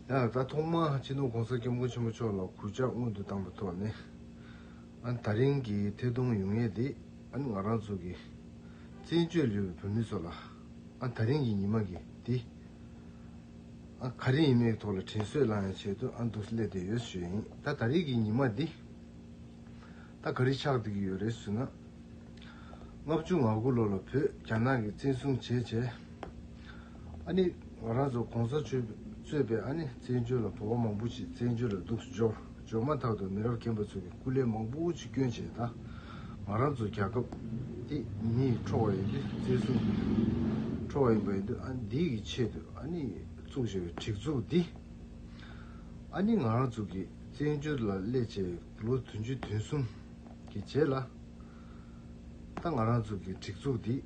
ཡང་ད་ཐོག་མར་སྤྱི་ནོར ྋགོང་ས ྋསྐྱབས་མགོན་ཆེན་པོ་མཆོག་ལ་གུས་ཕྱག་སྔོན་དུ་བཏང་པའི་ཐོག་ནས། ད་རིང་གི་ཐད་གཏོང་ཡུལ་ངེས་འདི་ང་རང་ཚོ་གི་བཙན་བྱོལ་ཡུལ་བའི་བོད་མི་ཚོ་ལ་ད་རིང་གི་ཉི་མ་འདི་ག་རེ་ཡིན་མིན་ཐོག་ལ་དྲིན་གཟོས་གླང་ཡང་བྱེད་དུ་འདུག་སླད་དེ་ཡོད་ཞུ་ཡིན། ད་རིང་གི་ཉི་མ་འདི་ག་རེ་ཆགས་འདུག་གི་ཡོད་རེད་ཟུར་ན་ལྔ་བཅུ་ང་དགུ་ལོ་ལ་བོད་རྒྱ་ནག་གི་བཙན་བཟུང་བྱས་རྗེས། ཨ་ནི་ང་རང་ཚོ་གོང་ས་ཆོས་གཙོས་པའི་ཨ་ནི་བཙན་བྱོལ་ལ་བོད་པ་མང་པོ་ཞིག་བཙན་བྱོལ་ལ་སྡུག་སྦྱོར་འཇོག་མ་ཐག་ཏུ་མི་རབས་རྒན་པ་ཚོ་གི་སྐུ་ལས་མང་པོ་ཆུ་སྐྱོན་བྱས། ད་ང་རང་ཚོ་རྒྱལ་ཁབ་འདི་མིའི་འཕྲོ་བ་ཡིན་དུས་བཙན་བཟུང་གི་འཕྲོ་བ་ཡིན་པ་ཡིན་དུས་ཨ་ནི་འདི་གི་ཆེད་དུ་ཨ་ནི་བཙུགས་བྱས་པའི་གྲིགས་འཛུགས་འདི་ཨ་ནི་ང་རང་ཚོ་གི་བཙན་བྱོལ་ལ་སླེབས་བྱས་ལོ་དུང་ཕྱེད་དུང་གསུམ་གི་རྗེས་ལ། ད་ང་རང་ཚོ་གི་སྒྲིག་འཛུགས་འདི་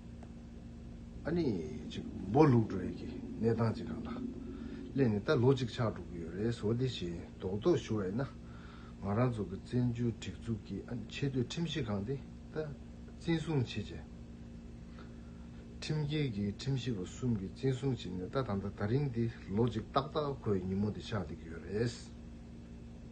ཨ་ནི་ཅིག་སྦོ་ལུག་འགྲོ་ཡི་གི་གནས་སྟངས་ཅིག་རང་ལ་སླེབས་ནས་ད་ལོ་གཅིག་ཆགས་འགྲོ་གི་ཡོད་རེད་ཟོ་འདི་བཞིན་རྡོག་རྡོག་ཞུ་བ་ཡིན་ན་ང་རང་ཚོ་གི་བཙན་བྱོལ་སྒྲིག་འཛུགས་ཀྱི་ཨ་ནི་ཆེ་བསྟོད་ཁྲིམས་གཞི་ཁང་འདི་ད་བཙན་བཟུང་བྱེད་བྱས། ཁྲིམས་འགལ་གི་ཁྲིམས་གཞི་བ་གསུམ་གི་བཙན་བཟུང་བྱས་ནས་ད་ད་ལྟ་ད་རིང་འདི་ལོ་གཅིག་ཏག་ཏག་ཁོའི་ཉིན་མོ་འདི་ཆགས་བསྡད་ཀྱི་ཡོད་རེད།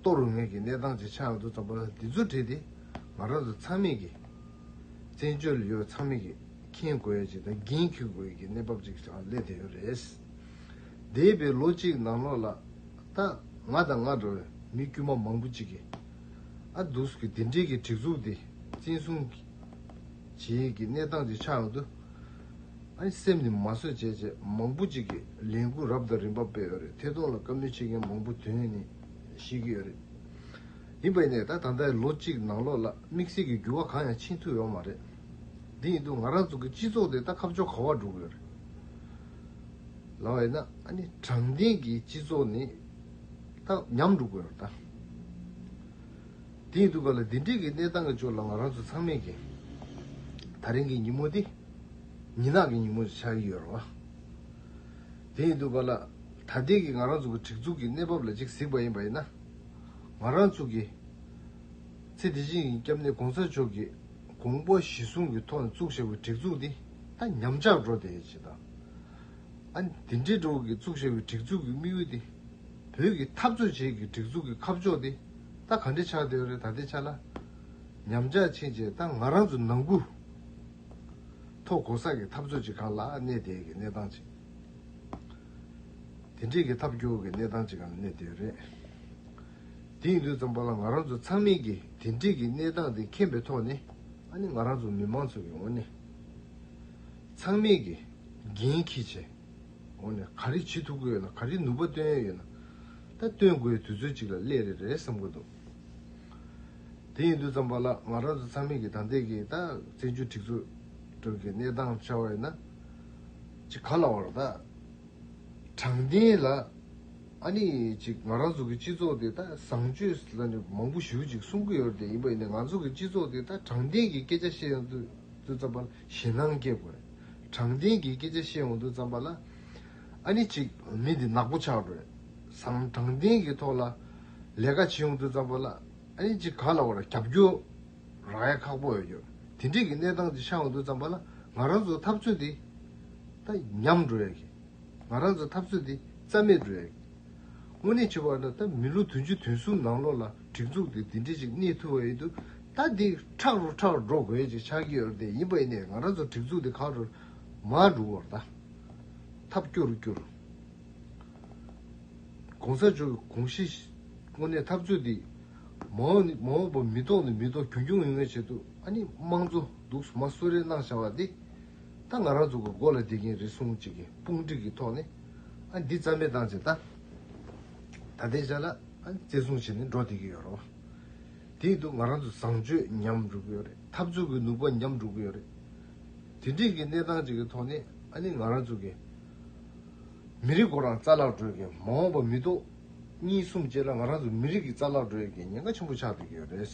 གཏོར་རུ་ངེས་ཀྱི་གནས་སྟངས་ཀྱི་ཆ་ང་ཚོ་ཙམ་པ་ལ་འདི་ཚོ་བྲིས་ཏེ་ང་རང་ཚོ་ཚང་མིག་གིས་བཙན་བྱོལ་ལ་ཡོད་པ་ཚང་མིག་གིས་མཁྱེན་དགོས་ཡ་ཅིག་དང་འགན་འཁུར་དགོས་ཡ་ཀྱི་གནས་བབ་ཅིག་ཀྱང་སླེབས་བསྡད་ཡོད་རེད། འདས་པའི་ལོ་གཅིག་ནང་ལོགས་ལ་ད་ང་དང་ང་འདྲ་བའི་མི་དཀྱུས་མ་མང་པོ་ཅིག་གིས་ཨ་དུས་ཀྱི་འདི་འདྲིའི་གི་སྒྲིག་འཛུགས་འདི་བཙན་བཟུང་བྱེད་ཀྱི་གནས་སྟངས་ཀྱི་ཆ་ང་ཚོ་ཨ་ནི་སེམས་ནས་མ་བཟོད་བྱས་བྱས་མང་པོ་ཅིག་གིས་ལས་འགུལ་རབ་དང་རིམ་པ་སྤེལ་ཡོད་རེད་ཐད་གཏོང་ལ་བཀའ་མོལ་བྱེད་མཁན་མང་པོ་དོན་ནི། བཤད་ཀྱི་ཡོད་རེད། ཡིན་པ་ཡིན་ནའི་ད་ད་ལྟའི་ལོ་གཅིག་ནང་ལོགས་ལ་དམིགས་བསལ་གྱི་འགྱུར་བ་གང་ཡང་ཕྱིན་ཐུབ་ཡོད་མ་རེད། དེ་ཡིན་དུས་ང་རང་ཚོ་གི་སྤྱི་ཚོགས་དེ་ད་ཁ་ཕྱོགས་ག་བར་འགྲོ་གི་ཡོད་རེད། ལ་བས་ན་དྲང་བདེན་གྱི་སྤྱི་ཚོགས་ནི་ད་ཉམས་འགྲོ་གི་ཡོད་རེད་ད། དེ་ཡིན་དུས་ག་ལ་འདི་འདྲིའི་གི་གནས་སྟངས་ཀྱི་ཕྱོགས་ལ་ང་རང་ཚོ་ཚང་མས་གི་ད་རིང་གི་ཉིན་མོ་དེ་ཉིན་ནག་གི་ཉིན་མོ་ཆགས་ཀྱི་ཡོད་རེད་བ། དེ་ཡིན་འདུག་པ་ལ། ད་ལྟའི་གི་ང་རང་ཚོ་གི་སྒྲིག་འཛུགས་ཀྱི་གནས་བབ་ལ་ཅིག་གཟིགས་པ་ཡིན་པ་ཡིན་ན། ང་རང་ཚོ་གི། ཚེ་འདི་བཞིན་གྱི་སྐྱབས་གནས་གོང་ས་མཆོག་གི་དགོངས་པ་གཞི་བཟུང་གི་ཐོག་ནས་བཙུགས་བཞག་པའི་སྒྲིག་འཛུགས་འདི་ད་ཉམས་ཆག་འགྲོ་བསྡད་ཡོད་ཅེས་དང། ཨ་ནི་དེ་འདྲའི་འགྲོ་གི་བཙུགས་བཞག་པའི་སྒྲིག་འཛུགས་ཀྱི་དམིགས་ཡུལ་འདི། བོད་ཀྱི་འཐབ་རྩོད་བྱེད་ཀྱི་སྒྲིག་འཛུགས་ཀྱི་ཁ་ཕྱོགས་འདི་ད་ག་འདྲས་ཆགས་བསྡད་ཡོད་རེད་ད་ལྟའི་ཆ་ལ། ཉམས་ཆག་ཕྱིན་རྗེས་ད་ང་རང་ཚོ་ནང་ཁུལ། ཐོག་གོ་ས་ཀྱི་འཐབ་རྩོད་ཅིག་གང་ལ་གནས་བསྡད་ཀྱི་གནས་སྟངས་ཅིག། དེ་འགྲིག་གི་ཐབས་སྐྱོ་གི་གནས་སྟངས་ཅིག་གང་ལ་གནས་བསྡད་རེད། དེ་ཡིན་དུས་ཙམ་པོ་ལ་ང་རང་ཚོ་ཚང་མིང་གིས་དེ་འགྲིག་གི་གནས་སྟངས་དེ་མཁྱེན་པའི་ཐོག་ནས་ཨ་ནི་ང་རང་ཚོ་མི་མང་ཚོ་ཡི་ངོ་ནས་ཚང་མིང་གིས་འགན་འཁྱི་ཆེ་ངོ་ནས་ག་རེ་བྱེད་ཐུབ་ཀི་ཡོད་ན་ག་རེ་ནུས་པ་བཏོན་ཡོད་ན་ད་བཏོན་དགོས་དུས་ཚོད་ཅིག་ལ་སླེབས་རེ་རེད་བསམ་གི་འདུག། དེ་ཡིན་དུས་ཙམ་པ་ལ་ང་རང་ཚོ་ཚང་མིག་གིས་དམ་འདེགས་ཀྱིས་ད་བཙན་བྱོལ་སྒྲིག་འཛུགས་ཁྲོད་ཀྱི་གནས་སྟངས་ཆ་བ་ཡིན་ན། ཅི་ག་ལ་བར་ད་དྲང་བདེན་ལ་ཨ་ནི་ཅིག་ང་རང་ཚོ་གི་སྤྱི་ཚོགས་དེ་ད་བཟང་སྤྱོད་ལ་ནི་མང་པོ་ཞུ་ཅིག་གསུང་གི་ཡོད་དེ་ཡིན་པ་ཡིན་ན་ང་ཚོ་གི་སྤྱི་ཚོགས་དེ་ད་དྲང་བདེན་གྱི་སྐད་ཆ་བཤད་ཡོང་དུས་ཙམ་པ་ལ་ཞེད་སྣང་སྐྱེ་དགོས། དྲང་བདེན་གྱི་སྐད་ཆ་བཤད་ཡོང་དུས་ཙམ་པ་ལ་ཨ་ནི་ཅིག་མི་འདི་ནག་པོ་ཆགས་དགོས་སམ་དྲང་བདེན་གྱི་ཐོག་ལ་ལས་ཀ་བྱེད་ཡོང་དུས་རྩ་འབོར་ལ་ཨ་ཉེ་གཅིག་ག་ལ་བར་རྒྱབ་སྐྱོར་རག་ཡ་ཁག་པོ་ཡོད། དེ་འདྲིས་ཀྱི་གནས་སྟངས་ཅིག་ཆགས་ཡོང་དུས་རྩ་འབོར་ལ་ང་རང་ཚོ་འཐབ་རྩོད་འདི་ད་ཉམས་འགྲོ་ཡ་གི། ང་རང་ཚོ་འཐབ་རྩོད་འདི་རྩ་མེད་འགྲོ་ཡ་གི། དངོས་གནས་བྱས་པ་ན་ད་མི་ལོ་དུང་ཅུ་དུང་གསུམ་ནང་ལོགས་ལ་སྒྲིག་འཛུགས་འདི་འདི་འདྲིས་ཅིག་གནས་ཐུབ་པ་ཡིན་དུས་ད་འདི་ཁྲག་རུ་ཁྲག་རུ་འགྲོ་དགོས་ཡ་ཅིག་ཆགས་ཀྱི་ཡོད་རེད་དེ་ཡིན་པ་ཡིན་ནའི་ང་རང་ཚོ་སྒྲིག་འཛུགས་འདི་གང་རུ་མ་འགྲོ་བར་ད་འཐབ་སྐྱོ་རུ་སྐྱོ་རུ། གོང་ས་མཆོག་གི་དགོངས་གཞི་དངོས་གནས་འཐབ་རྩོད་འདི། མ་འོངས་ནི་མ་འོངས་པ་མི་ལྡོག་ནི་མི་ལྡོག་གྱོང་གྱོང་ངེ་ངེ་བྱེད་དུ་ཨ་ནི་དམངས་གཙོ་སྡུག་གསུམ་མ་གསོད་རེ་གནང་བྱ་བ་འདི། ད་ང་རང་ཚོ་གི་མགོ་ལ་འདེད་ཀྱིན་རེད་གསུངས་ཅིག་གི་དཔུང་སྒྲིག་གི་ཐོག་ནས་ཨ་འདི་རྩ་མེད་བཏང་ཅིག་ད། ད་ལྟའི་ཆ་ལ་ཨ་བརྩི་སྲུང་བྱེད་ནི་འགྲོ་བསྡད་ཀྱི་ཡོད་རོགས། དེ་ཡིན་དུ་ང་རང་ཚོ་བཟང་སྤྱོད་ཉམས་འགྲོ་གི་ཡོད་རེད་འཐབ་རྩོད་ཀྱི་ནུས་པ་ཉམས་འགྲོ་གི་ཡོད་རེད། དེ་འདྲིས་ཀྱི་གནས་སྟངས་ཅིག་གི་ཐོག་ནས་ཨ་ནི་ང་རང་ཚོ་གི། མི་རིགས་སྐོར་ལ་རྩ་བརླག་འགྲོ་ཡི་གི་མ་འོངས་པ་མི་གཏོགས། གཉིས་གསུམ་བཅས་ལ་ང་རང་ཚོ་མི་རིགས་ཀྱི་རྩ་བརླག་འགྲོ་ཡི་གི་ཉེན་ཁ་ཆེན་པོ་ཆགས་སྡོད་ཀྱི་ཡོད་རེད།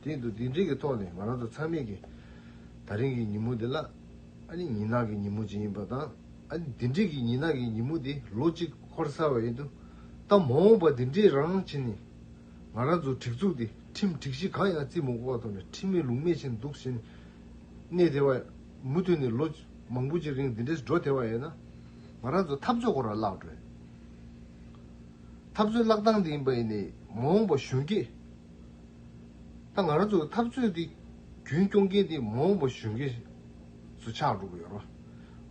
དེ་ཡིན་དུ་དེ་འདྲིའི་གི་ཐོག་ནས་ང་རང་ཚོ་ཚང་མས་གི་ད་རིང་གི་ཉིན་མོ་འདི་ལ་ཨ་ནི་ཉིན་ནག་གི་ཉིན་མོ་ཅིག་ཡིན་པ་དང་ཨ་ནི་དེ་འདྲིའི་གི་ཉིན་ནག་གི་ཉིན་མོ་དེ་ལོ་གཅིག་འཁོར་ཚར་བ་ཡིན་དུ་ད་མ་འོངས་པ་དེ་འདྲིའི་རང་བྱས་ནས་ང་རང་ཚོ་གྲིགས་ཚུགས་དེ་ཁྲིམས་གྲིགས་གཞི་གང་ཡང་རྩིས་མ་དགོས་པ་ཐོག་ནས་ཁྲིམས་མེད་ལུགས་མེད་བྱས་ནས་འདུག་བཞིན་གནས་དེ་བ། མུ་མཐུད་ནས་ལོ་མང་པོ་གཅིག་རིང་འདི་འདྲས་སུ་འགྲོ་ཐལ་བ་ཡོད་ན། ང་རང་ཚོ་འཐབ་རྩོད་སྐོར་ལ་བཀླགས་འགྲོ། འཐབ་རྩོད་བཀླགས་སྟངས་དེ་ཡིན་པ་ཡིན་ནས་མ་འོངས་པ་གཞོན་སྐྱེས། ད་ང་རང་ཚོ་འཐབ་རྩོད་དེ་རྒྱུན་སྐྱོང་མཁན་དེ་མ་འོངས་པ་གཞོན་སྐྱེས་སུ་ཆགས་འགྲོ་གི་ཡོད་རོ།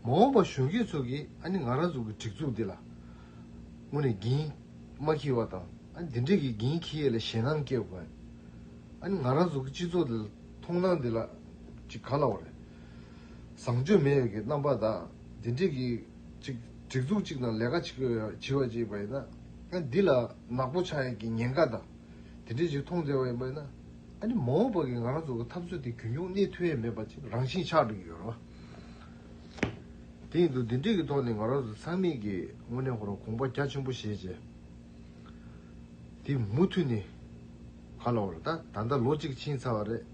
མ་འོངས་པ་གཞོན་སྐྱེས་ཚོ་གིས་ཨ་ནི་ང་རང་ཚོ་གི་སྒྲིག་འཛུགས་འདི་ལ་དངོས་ནས་འགན་མ་འཁྱེར་བ་དང་ཨ་ནི་འདི་འདྲས་ཀྱི་འགན་འཁྱེར་ཡས་ལ་ཞེད་སྣང་སྐྱེ་དགོས། ཨ་ནི་ང་རང་ཚོ་གི་སྤྱི་ཚོགས་འདི་ལ། མཐོང་སྣང་འདི་ལ་ཅིག་ག་ལ་བ་རེད། བཟང་སྤྱོད་མེད་ཡོད་ཀྱི་རྣམ་པ་དག་འདི་འདྲིས་ཀྱི་ཅིག་སྒྲིག་འཛུགས་ཅིག་དང་ལས་ཀ་བྱེད་ཀྱི་ཡོད་བྱེད་བ་ཅིག་པ་ཡིན་ན་ཨ་འདི་ལ་ནག་པོ་ཆགས་ཡོད་ཀྱི་ཉེན་ཁ་དང་འདི་འདྲིས་ཅིག་མཐོང་བཙལ་བ་ཡིན་པ་ཡིན་ན་ཨ་ནི་མ་འོངས་པ་ཀྱི་ང་རང་ཚོ་གི་འཐབ་རྩོད་དེ་གུ་འབྱུང་གནས་ཐུ་ཡས་མེད་པ་ཅིག་རང་བཞིན་ཆགས་འགྲོ་ཀྱི་ཡོད་རེད་བ། དེ་ཡིན་དུ་འདི་འདྲིས་ཀྱི་ཐོག་ནས་ང་རང་ཚོ་ཚང་མིག་གིས་དངོས་གནས་ཁོ་རང་གོང་པ་རྒྱ་ཆེན་པོ་བཞེས་བྱས་འདི་མུ་མཐུད་ནས། ཧ་ལོ་ད་ད་ལྟ་ལོ་གཅིག་ཕྱིན་ཚར་བ་རེད།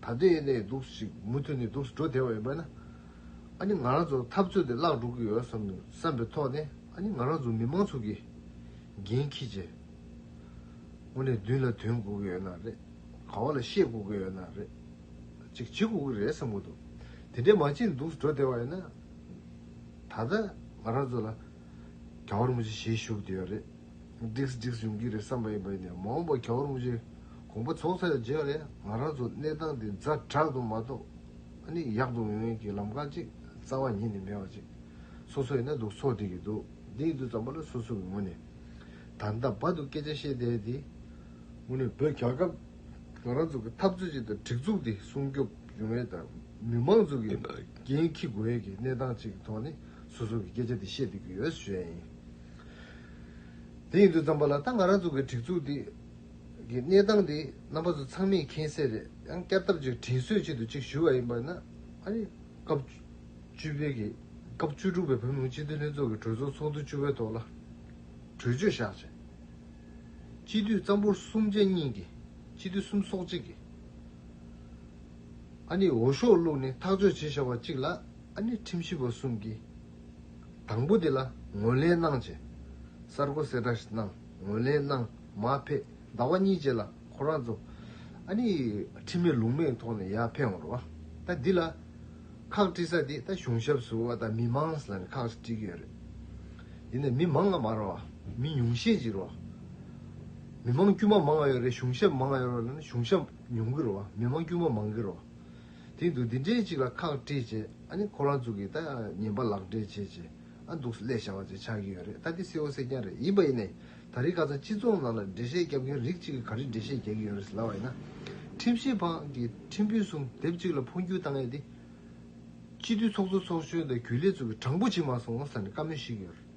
ད་ལྟའི་གནས་སྡུག་ཅིག་མུ་མཐུད་ནས་སྡུག་འགྲོ་དེ་བ་ཡིན་པས་ན། ཨ་ནི་ང་རང་ཚོར་འཐབ་རྩོད་དེ་བརླག་འགྲོ་གི་ཡོད་བསམ་བསམ་པའི་ཐོག་ནས་ཨ་ནི་ང་རང་ཚོ་མི་མང་ཚོགས་ཀྱིས་འགན་འཁྱི་རྗེས། དངོས་གནས་མདུན་ལ་དོན་དགོས་གི་ཡོད་ན་རེད། ག་བ་ལ་ཤེས་དགོས་གི་ཡོད་ན་རེད། ཅིག་བྱེད་དགོས་གི་རེད་བསམ་གི་འདུག་དེ་འདྲའི་མ་བྱས་ནས་སྡུག་འགྲོ་དེ་བ་ཡིན་ན། ད་ད་ང་རང་ཚོ་ལ། ག་བར་མི་བྱེད་ཞེས་ཞུ་བདེ་བ་རེད། བསྒྲིགས་བསྒྲིགས་ཡོང་གི་རེད་བསམ་པ་ཡིན་པ་ཡིན་ནས་མ་འོངས་པར་ག་བར་མི་བྱེད་དགོངས་པ་རྫོགས་ཚར་རྗེས་ལས་ང་རང་ཚོ་གནས་སྟངས་འདི་རྫ་དྲག་ཏུ་མ་གཏོགས་ནི་ཡག་འདུག་ཡོང་ཡོང་གི་ལམ་ཁ་ཅིག་རྩ་བ་ཉིད་ནས་མེད་པ་ཅིག་སོ་སོ་ཡིན་ན་འདུག་ཚོགས་སྒྲིག་གི་འདུག་འདིའི་འདུག་ཙམ་པ་ལ་སོ་སོ་གི་ངོ་ནས་ད་ལྟ་བར་དུ་སྐད་ཆ་བཤད་བསྡད་དེ་དངོས་གནས་བོད་རྒྱ་སྐབས་ང་རང་ཚོ་གི་འཐབ་རྩོད་ཅིག་དང་སྒྲིག་འཛུགས་འདི་སྲུང་སྐྱོབ་ཡོང་བའི་དང་མི་མང་ཚོ་གི་འགན་འཁྱི་དགོས་ཡས་ཀྱི་གནས་སྟངས་ཅིག་གི་ཐོག་ནས། སོ་སོ་གི་སྐད་ཆ་དེ་བཤད་སྡོད་ཀྱི་ཡོད་ཟེར་ཡ་ཡིན། དེ་ཡིན་དུ་བརྩམས་པ་ལ་ད་ང་རང་ཚོ་གི་སྒྲིག་འཛུགས་འདི་གི་གནས་སྟངས་དེ་རྣམ་པ་ཚོ་ཚང་མས་མཁྱེན་གསལ་རེད་ཡང་བསྐྱར་ཐབས་ཅིག་དྲིན་གཟོའི་ཆེད་དུ་གཅིག་ཞུ་བ་ཡིན་པ་ན། ཨ་རིའི་སྐབས་བཅུ་པའི་གི་སྐབས་བཅུ་དྲུག་པའི་བོད་མིའི་སྤྱི་འཐུས་ལྷན་ཚོགས་ཀྱི་གྲོས་ཚོགས་ཚོགས་འདུ་བཅུ་བའི་ཐོག་ལ་གྲོས་ཆོད་བཞག་རྗེས། སྤྱི་འཐུས་གཙང་པོ་གསུམ་བཅས་གཉིས་ཀྱིས་སྤྱི་འཐུས་གསུམ་སོགས་གཅིག་གིས་ཨ་ནི་འོ་ཤོག་བླུགས་ནས་ཐག་གཅོད་བྱེད་བཞག་པ་གཅིག་ལ། ཨ་ནི་ཁྲིམས་ཞིབ་པ་གསུམ་གྱིས་དང་པོ་དེ་ལ་ངོས་ལེན་གནང་བྱས། གསར་འགོད་གསལ་བསྒྲགས་གནང་ངོས་ལེན་གནང་མ་ཕེད་ཟླ་བ་གཉིས་རྗེས་ལ་ཁོ་རང་ཚོ་ཨ་ནི་ཁྲིམས་མེད་ལུགས་མེད་ཐོག་ནས་ཡར་འཕེན་འོར་བ་ད་འདི་ལ་ཁག་དཀྲི་ས་དེ་ད་གཞུང་ཞབས་སུ་བ་ད་མི་མངས་ལ་ནི་ཁག་དཀྲི་གི་ཡོད་རེད་དེ་ནས་མི་མང་ང་མ་ར་བ་མི་ཉུང་ཤས་ཅིག་ར་བ་མི་མང་དཀྱུས་མ་མང་ཡོད་རེད་གཞུང་ཞབས་མང་ཡོད་ར་བ་ལ་ནི་གཞུང་ཞབས་ཉུང་གི་ར་བ་མི་མང་དཀྱུས་མ་མང་གི་ར་བ། དེང་དུ་འདི་འདྲའི་ཅིག་ལ་ཁག་དཀྲིས་བྱས་ཨ་ནི་ཁོ་རང་ཚུགས་ཀྱིས་ད་ཉན་པ་ལག་འབྲེལ་བྱེད་ཀྱི་ཨ་འདུག་སླད་བྱ་བ་ཅིག་ཆགས་ཀྱི་ཡོད་རེད་ད་འདི་སེའོ་སེ་རྐྱང་རེད་ཡིན་པ་ཡིན་ནའི་ད་རིས་ཁ་ཚང་སྤྱི་ཚོགས་ནང་ལ་འགྲེལ་བཤད་རྒྱབ་མཁན་རིགས་གཅིག་གིས་ག་རེ་འགྲེལ་བཤད་རྒྱག་གི་ཡོད་རེད་ཟེར་ལབ་བ་ཡིན་ན། ཁྲིམས་ཞིབ་པ་གི་ཁྲིམས་དཔོན་གསུམ་དེབ་གཅིག་ལ་འཕོ་འགྱུར་བཏང་ཡས་དེ། སྤྱི་འཐུས་ཚོགས་གཙོ་ཚོགས་གཞོན་དང་གུས་ལེགས་ཚུགས་ཀྱིས་དྲང་པོ་བྱེད་མ་སོང་ཟེར་ནས་བཀའ་མོལ་ཞིག་ཡོད་རེད།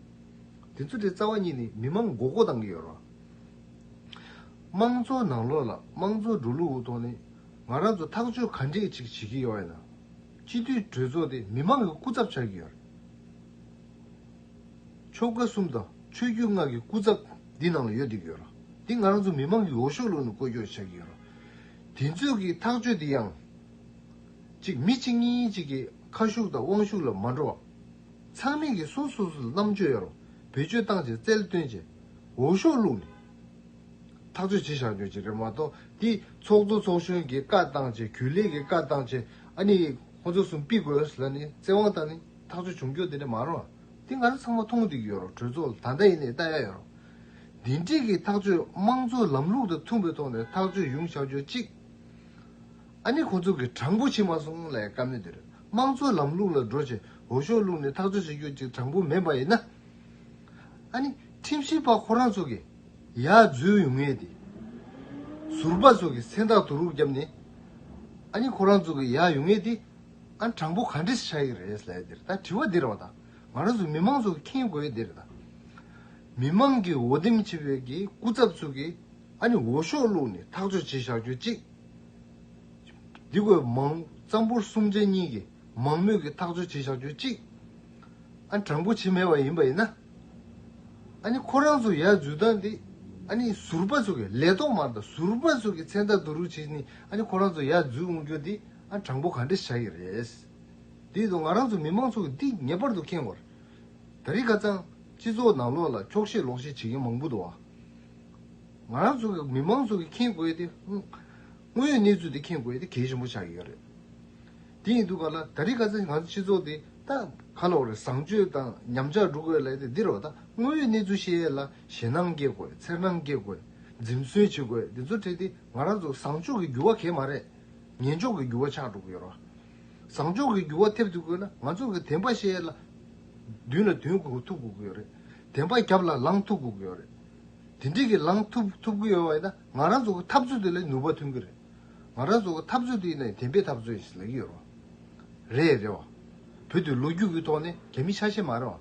དེ་ཚོ་དེ་རྩ་བ་ཉིད་ནས་མི་མང་མགོ་སྐོར་བཏང་གི་ཡོད་རེད། དམངས་གཙོ་ནང་ལོགས་ལ་དམངས་གཙོ་འགྲོ་ལུགས་འོག་ཏུ་ནས་ང་རང་ཚོ་ཐག་གཅོད་ག་འདྲས་ཅིག་བྱེད་ཀྱི་ཡོད་ཡིན་ནམ། སྤྱི་འཐུས་གྲོས་ཚོགས་དེ་མི་མང་གི་སྐུ་ཚབ་བྱ་རྒྱུ་ཡིན། ཆོལ་ཁ་གསུམ་དང་ཆོས་བརྒྱུད་ལྔ་གི་སྐུ་ཚབ་འདི་ནང་ལ་ཡོད་བསྡད་ཀྱི་ཡོད། འདི་ང་རང་ཚོ་མི་མང་གི་འོ་ཤོག་ལུག་ནས་བཀོལ་སྐྱོར་བྱ་གི་ཡོད། དེ་ཚོས་ཀྱི་ཐག་གཅོད་འདི་ཡང། གཅིག་མི་གཅིག་གཉིས་གཅིག་གི་ཁ་ཤུགས་དང་དབང་ཤུགས་ལ་མ་འགྲོ་བར། ཚང་མས་ཀྱི་སོ་སོ་སོ་ལ་རྣམ་དཔྱོད་ཡོད་རུང་བེད་སྤྱོད་བཏང་རྗེས་རྩལ་བཏོན་རྗེས། འོ་ཤོག་ལུག་ནས། ཐག་གཅོད་བྱེད་བཞག་ཡོད་ཅེས་རེད་མ་གཏོགས་འདི་ཚོགས་གཙོ་ཚོགས་གཞོན་གྱི་བཀའ་བཏང་ཆེད་གུས་ལེགས་ཀྱི་བཀའ་བཏང་ཆེད་ཨ་ནི་ཁོང་ཚོ་གསུམ་དཔིས་དགོས་ལ་ནི་བཙན་དབང་བཏང་ནི་ཐག་གཅོད་བྱུང་རྒྱུ་དེ་འདྲ་མ་རུང་འདི་ང་ཚོ་ཚང་མ་མཐོང་བསྡིགས་ཡོད་རོགས་གྲོས་ཚོགས་ལ་ད་ལྟ་ཡིན་ནའི་བལྟ་ཡ་ཡོད་རོགས། འདི་འདྲིས་ཀྱི་ཐག་གཅོད་དམངས་གཙོའི་ལམ་ལུགས་དང་མཐུན་པའི་ཐོག་ནས་ཐག་གཅོད་ཡོང་བཞག་ཡོད་ཅིག་ཨ་ནི་ཁོང་ཚོ་གི་དྲང་པོ་བྱེད་མ་སོང་ལས་ཀ་མེད་འདིར་དམངས་གཙོའི་ལམ་ལུགས་ལ་འགྲོ་ཆེད་འོས་ཤོག་བླུགས་ནས་ཐག་གཅོད་བྱེད་རྒྱུ་ཅིག་དྲང་པོ་མེད་པ་ཡིན་ན་ཨ་ནི་ཁྲིམས་ཞིབ་པ་ཁོ་རང་ཚོ་གི། ཡ་བརྫུས་ཡོང་ངེས་ཏེ། ཟུར་པ་སོགས་ཀྱི་མཚན་རྟགས་བསྡུ་རུག་བརྒྱབ་ནས། ཨ་ནི་ཁོ་རང་ཚོ་གི་ཡ་ཡོང་ངེས་ཏེ། ཨ་དྲང་པོ་ག་འདྲི་ཆགས་ཀྱི་རེད་ལས་འདིར་ད་དྲི་བ་འདིར་བ་དང་ང་རང་ཚོ་མི་མང་ཚོ་གི་མཁྱེན་དགོས་འདིར་ད། མི་མང་གི་འོ་དེམ་ཆེ་བའི་གི་སྐུ་ཚབ་ཚོ་གི་ཨ་ནི་འོ་ཤོག་བླུག་ནས་ཐག་གཅོད་བྱེད་བཞག་གྱུར་ཅིག། འདི་གོས་མང། རྩམ་ཕུར་གསུམ་ཆ་གཉིས་གི་མང་མོས་ཀྱི་ཐག་གཅོད་བྱེད་བཞག་གྱུར་ཅིག། ཨ་དྲང་པོ་བྱེད་མེད་པ་ཡིན་པ་ཡིན་ན། ཨཱ་ནི་ཁོ་རང་ཚོ་ཡར་འཛུལ་སྟངས་འདི། ཨཱ་ནི་ཟུར་པ་ཚོ་གིས་ལས་ཐོག་མར་དང་ཟུར་པ་ཚོ་གིས་མཚན་རྟགས་བསྡུ་རུག་བྱེད་ནི་ཨཱ་ནི་ཁོ་རང་ཚོ་ཡར་འཛུལ་འོང་རྒྱུ་འདི་ཨ་དྲང་པོ་ག་འདྲ་བྱ་ཡི་རེད། འདིས་ད་ང་རང་ཚོ་མི་མང་ཚོ་གིས་འདི་ངེས་པར་དུ་ཁེངས་བར། ད་རིག་ག་ཙང། སྤྱི་ཚོགས་ནང་ལོག་ལ་འཁྱོག་བཤད་ལོག་བཤད་བྱེད་མཁན་མང་པོ་འདུག་བ། ང་རང་ཚོ་གིས་མི་མང་ཚོ་གིས་ཁེངས་དགོས་ཏེ། དངོས་ཡོད་གནས་ཚུལ་འདི་ཁེངས་དགོས་དེ་གལ་ཆེན་པོ་ཆགས་ཡོད་རེད། དེ་ཡིན་དུས་ག་ལ་ད་རེས་ག་ཚད་ང་ཚོ་སྤྱི་ཚོགས་འདི་ད་ག་ལ་བ་རེད་བཟང་སྤྱོད་དང་ཉམས་ཆག་འགྲོ་དགོས་ལས་དེ་འདིར་བ་ད་དངོས་ཡོད་གནས་ཚུལ་ཤེས་ཡས་ལ་ཞེད་སྣང་སྐྱེ་དགོས་འཚེར་སྣང་སྐྱེ་དགོས་འཛིམ་གསོན་བྱེད་དགོས་འདི་ཚོ་བྲིས་ཏེ་ང་རང་ཚོ་བཟང་སྤྱོད་ཀྱི་འགྱུར་བ་གས་མ་རེད་ངན་སྤྱོད་ཀྱི་འགྱུར་བ་ཆགས་འགྲོ་གི་ཡོད་ར་བཟང་སྤྱོད་ཀྱི་འགྱུར་བ་ཐེབས་ཐུབ་དགོས་ན་ང་ཚོ་གི་དེངས་པ་ཤེས་ཡས་ལ་མདུན་ལ་དོན་གོ་ཐུབ་དགོས་གི་ཡོད་རེད་དེངས་པ་རྒྱབ་ལ་ལངས་ཐུབ་དགོས་གི་ཡོད་རེད་དེ་འདྲིས་གི་ལངས་ཐུབ་ཐུབ་གི་ཡོད་བ་ཡིན་ན་ང་རང་ཚོ་གི་འཐབ་རྩོད་དེ་ལས་ནུས་པ་ཐོན་གི་རེད། ང་རང་ཚོ་འཐབ་རྩོད་དུ་ཡིན་ན་བདེན་པའི་འཐབ་རྩོད་ཞིག་ལ་ཡོད་རེད། རེད་བ། བོད་དེ་ལོ་རྒྱུས་ཀྱི་ཐོག་ནས་གལ་མི་ཆགས་ཤེས་མ་རེད་བ།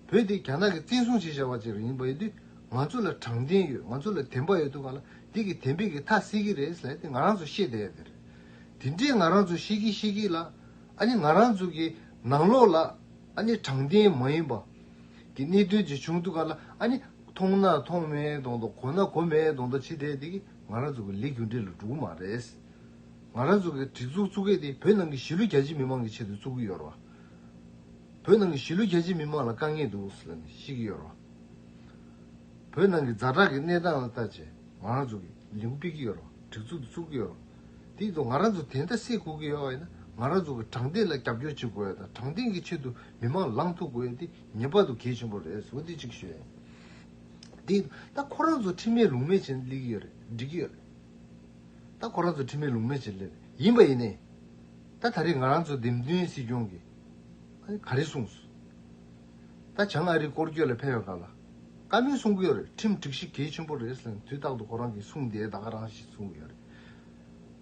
བོད་དེ་རྒྱ་ནག་གི་བཙན་བཟུང་བྱས་བཞག་པ་ཅིག་ཡིན་པ་ཡིན་དུས་ང་ཚོ་ལ་དྲང་བདེན་ཡོད་ང་ཚོ་ལ་བདེན་པ་ཡོད་དུས་ང་ལ་འདི་གི་བདེན་པའི་གི་ཐག་སྲིད་གི་རེད་ཟེར་ཏེ་ང་རང་ཚོ་ཤེས་བསྡད་ཡོད་རེད། དེ་འདྲའི་ང་རང་ཚོ་ཤེས་གི་ཤེས་གི་ལ་ཨ་ནི་ང་རང་ཚོ་གི་ནང་ལོགས་ལ་ཨ་ནི་དྲང་བདེན་མ་ཡིན་པ་གི་གནད་དོན་ཅིག་བྱུང་དུས་ང་ལ་ཨ་ནི་མཐོང་ན་མཐོང་མེད་དོང་དུ་གོ་ན་གོ་མེད་དོང་དུ་ཕྱི་དེ་འདི་གི་ང་རང་ཚོ་གི་ལས་རྒྱུ་འབྲས་ལ་འགྲོ་གི་མ་རེད། ང་རང་ཚོ་གི་སྒྲིག་འཛུགས་བཙུགས་སྐད་དེ་བོད་ནང་གི་གཞིས་ལུས་རྒྱ་ཆེ་མི་མང་གི་ཆེད་དུ་བཙུགས་གི་ཡོད་རེད། བོད་ནང་གི་གཞིས་ལུས་རྒྱ་ཆེ་མི་མང་ལ་དཀའ་ངལ་འདུག་ཟེར་ནས་ཤི་གི་ཡོད་རེད། བོད་ནང་གི་རྫ་དྲག་གི་གནས་སྟངས་ལ་ལྟ་ཆེད་ང་རང་ཚོ་གི་ལས་འགུལ་སྤེལ་གི་ཡོད་རེད་སྒྲིག་འཛུགས་དེ་བཙུགས་གི་ཡོད་རེད། དེའི་ཐོག་ང་རང་ཚོ་དེ་འདྲ་སེ་དགོས་ཀྱི་ཡོད་ཡིན་ན་ང་རང་ཚོ་གི་དྲང་བདེན་ལ་རྒྱབ་སྐྱོར་བྱེད་དགོས་དང་དྲང་བདེན་གི་ཆེད་དུ་མི་མང་ལངས་ཐུབ་དགོས་དེ་ངེས་པར་དུ་གལ་ཆེན་པོ་རེད་ཟེར་བ་དེ་གཅིག་ཤོད། འདི་ད་ཁོ་རང་ཚོ་ཁྲིམས་མེད་ལུགས་མེད་བྱེད་ལེགས་ཀྱི་ཡོད་རེད་འགྲིག་གི་ཡོད་རེད་ད་ཁོ་རང་ཚོ་ཁྲིམས་མེད་ལུགས་མེད་བྱེད་ལེགས་རེད་ཡིན་པ་ཡིན་ནའི་ད་ད་རེས་ང་རང་ཚོ་འདེམས་ཐོན་སྲིད་སྐྱོང་གི་ག་རེ་གསུངས་སོད་བྱང་ཨ་རི་སྐོར་སྐྱོད་ལ་ཕེབས་ཡོང་སྐབས་ལ་བཀའ་མོལ་གསུང་གི་ཡོད་རེད་ཁྲིམས་སྒྲིག་གཞི་གལ་ཆེན་པོ་རེད་ཟེར་ནས་དུས་རྟག་ཏུ་ཁོ་རང་གིས་གསུངས་དེ་ད་ག་རང་ཞིག་གསུངས་ཡོད་རེད།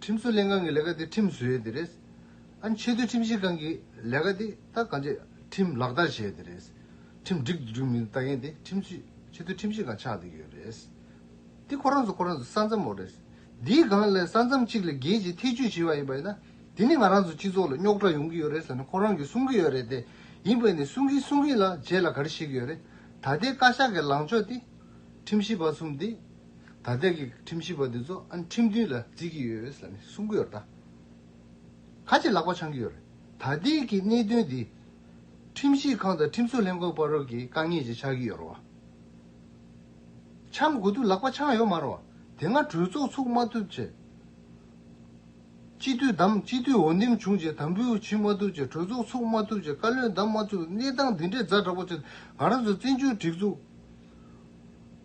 ཁྲིམས་བཟོ་ལས་ཁང་གི་ལས་ཀ་དེ་ཁྲིམས་བཟོས་དེ་རེད། ཨ་ཆེ་མཐོའི་ཁྲིམས་ཞིབ་ཁང་གི་ལས་ཀ་དེ་ད་གང་ཆེ་ཁྲིམས་ལག་བསྟར་བྱས་དེ་རེད། ཁྲིམས་འགྲིག་འདུག་འགྲིག་མི་འདུག་ལྟ་མཁན་དེ་ཁྲིམས་བཟོས་ཆེ་མཐོའི་ཁྲིམས་ཞིབ་ཁང་ཆགས་དེ་ཡོད་རེད། དེ་ཁོ་རང་ཚོ་ཁོ་རང་ཚོའི་ས་མཚམས་འོག་རེད། འདིའི་སྒང་ལ་ས་མཚམས་གཅིག་ལ་རྒྱལ་སྤྱིའི་ཐེ་བྱུས་བྱེད་པ་ཡིན་པ་ཡིན་ན། དེ་ནི་ང་རང་ཚོའི་སྤྱི་ཚོགས་ལ་རྙོག་དྲ་ཡོང་གི་ཡོད་རེད་ཟེར་ནས་ཁོ་རང་གིས་གསུང་གི་ཡོད་རེད་དེ། ཡིན་པས་ནི་གསུང་གིན་གསུང་གིན་ལ་རྗེས་ལ་ག་རེ་བྱེད་ཀྱི་ཡོད་རེད། ད་ལྟའི་བཀའ་ཤག་གི་ལངས་ཕྱོགས་དེ། ཁྲིམས་ཞིབ་པ་གསུམ་དེ། ད་ལྟའི་གི་ཁྲིམས་ཞིབ་པ་དེ་ཚོ་ཨ་ཁྲིམས་མཐུན་ལ་བརྩི་གི་ཡོད་ལ་ནི་གསུང་གི་ཡོད་རེད་ད། ཁ་ཆེ་ལག་པ་འཆང་གི་ཡོད་རེད་ད་ལྟའི་གི་གནད་དོན་འདི། ཁྲིམས་ཞིབ་ཁང་དང་ཁྲིམས་བཟོ་ལྷན་ཁང་བར་རོགས་ཀྱི་དཀའ་ངལ་ཞིག་ཆགས་ཀྱི་ཡོད་རེད་བ། འཆང་དགོས་དུས་ལག་པ་འཆང་ཡོད་མ་རེད་བ། དེ་སྔ་གྲོས་ཚོགས་ཚུགས་མ་ཐུབ་ཆེད། སྤྱི་འཐུས་བདམས་སྤྱི་འཐུས་འོས་འདེམས་བྱུང་ཆེད་དམ་འབུལ་བྱེད་མ་ཐུབ་ཆེད་གྲོས་ཚོགས་ཚུགས་མ་ཐུབ་ཆེད་བཀའ་བློན་བདམས་མ་ཐུབ་གནས་སྟངས་འདི་འདྲའི་རྫ་འདྲ་པོ་ཆེད་ང་རང་ཚོ་བཙན་བྱོལ་སྒྲིག་འཛུགས་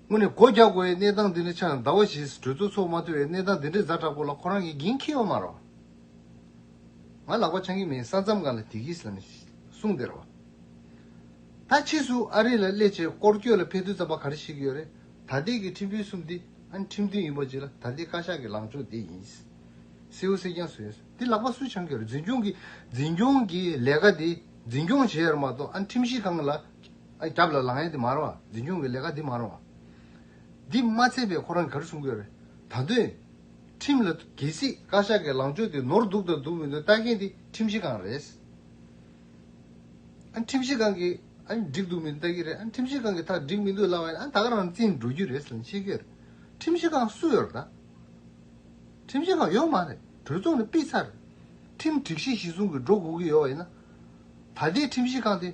དངོས་ནས་སྒོ་རྒྱག་དགོས་པའི་གནས་སྟངས་འདི་ནི་ཆ་ཡང་ཟླ་བ་བཞི་ཟིན་གྲོས་ཚོགས་ཚོགས་མ་ཐུབ་པའི་གནས་སྟངས་འདི་འདྲའི་གཟའ་དྲག་པོ་ལ་ཁོ་རང་གིས་འགན་འཁྱེར་ཡོང་མ་རུང། ང་ལག་པ་འཆང་གི་མིན་ས་མཚམས་གང་ལ་དེ་གྱིས་ལ་ནི་གསུངས་བདེར་བ། ད་ཕྱིས་སུ་ཨ་རི་ལ་སླེབས་ཆེད་སྐོར་སྐྱོད་ལ་ཕེབས་དུས་རྩམ་པ་ག་རེ་ཞིག་ཡོད་རེད་ད་ལྟའི་གི་ཁྲིམས་དཔོན་གསུམ་འདི་ཨ་ནི་ཁྲིམས་མཐུན་ཡིན་པ་གཅིག་ལ་ད་ལྟའི་བཀའ་ཤག་གི་ལངས་ཕྱོགས་འདི་ཡིན། སེའུ་སེ་རྒྱངས་སུ་ཡོད་འདི་ལག་པ་སུས་འཆང་གི་རེད་འཛིན་སྐྱོང་གིས་འཛིན་སྐྱོང་གིས་ལས་ཀ་འདི་འཛིན་སྐྱོང་བྱས་ཡོད་མ་གཏོགས་ཨ་ནི་ཁྲིམས་གཞི་གང་ལ་སྐྱབས་ལ་ལང་ཡ་འདི་མ་རུང་བ། འཛིན་སྐྱོང་གི་ལས་ཀ་འདི་མ་རུང་བ། འདི་མ་ཚད་པས་ཁོ་རང་གར་སོང་གི་རེད། ད་དོན། ཁྲིམས་ལ་གལ་སྲིད། བཀའ་ཤག་གི་ལངས་ཕྱོགས་དེ་ནོར་འདུག་དང་འདུག་མི་འདུག་ལྟ་མཁན་དེ་ཁྲིམས་གཞི་གང་རེད། ཁྲིམས་གཞི་གང་གིས་འགྲིག་འདུག་མི་འདུག་ལྟ་གི་རེད། ཁྲིམས་གཞི་གང་གིས་ཐག་འགྲིག་མི་འདུག་ལབ་པ་ཡིན་ན་ད་ག་རང་བཙན་འགྲོ་རྒྱུ་རེད་ཟེར་ནས་ཤེས་ཀྱི་རེད། ཁྲིམས་གཞི་གང་སུ་ཡོད་རེད་ད། ཁྲིམས་གཞི་གང་ཡོད་མ་རེད། གྲོས་ཚོགས་ནས་སྤེལ་ཚར་རེད། ཁྲིམས་སྒྲིག་གཞི་གཞི་བཟུང་གི་འགྲོ་དགོས་ཀྱི་ཡོད་ཡིན་ན། ད་ལྟའི་ཁྲིམས་གཞི་གང་དེ།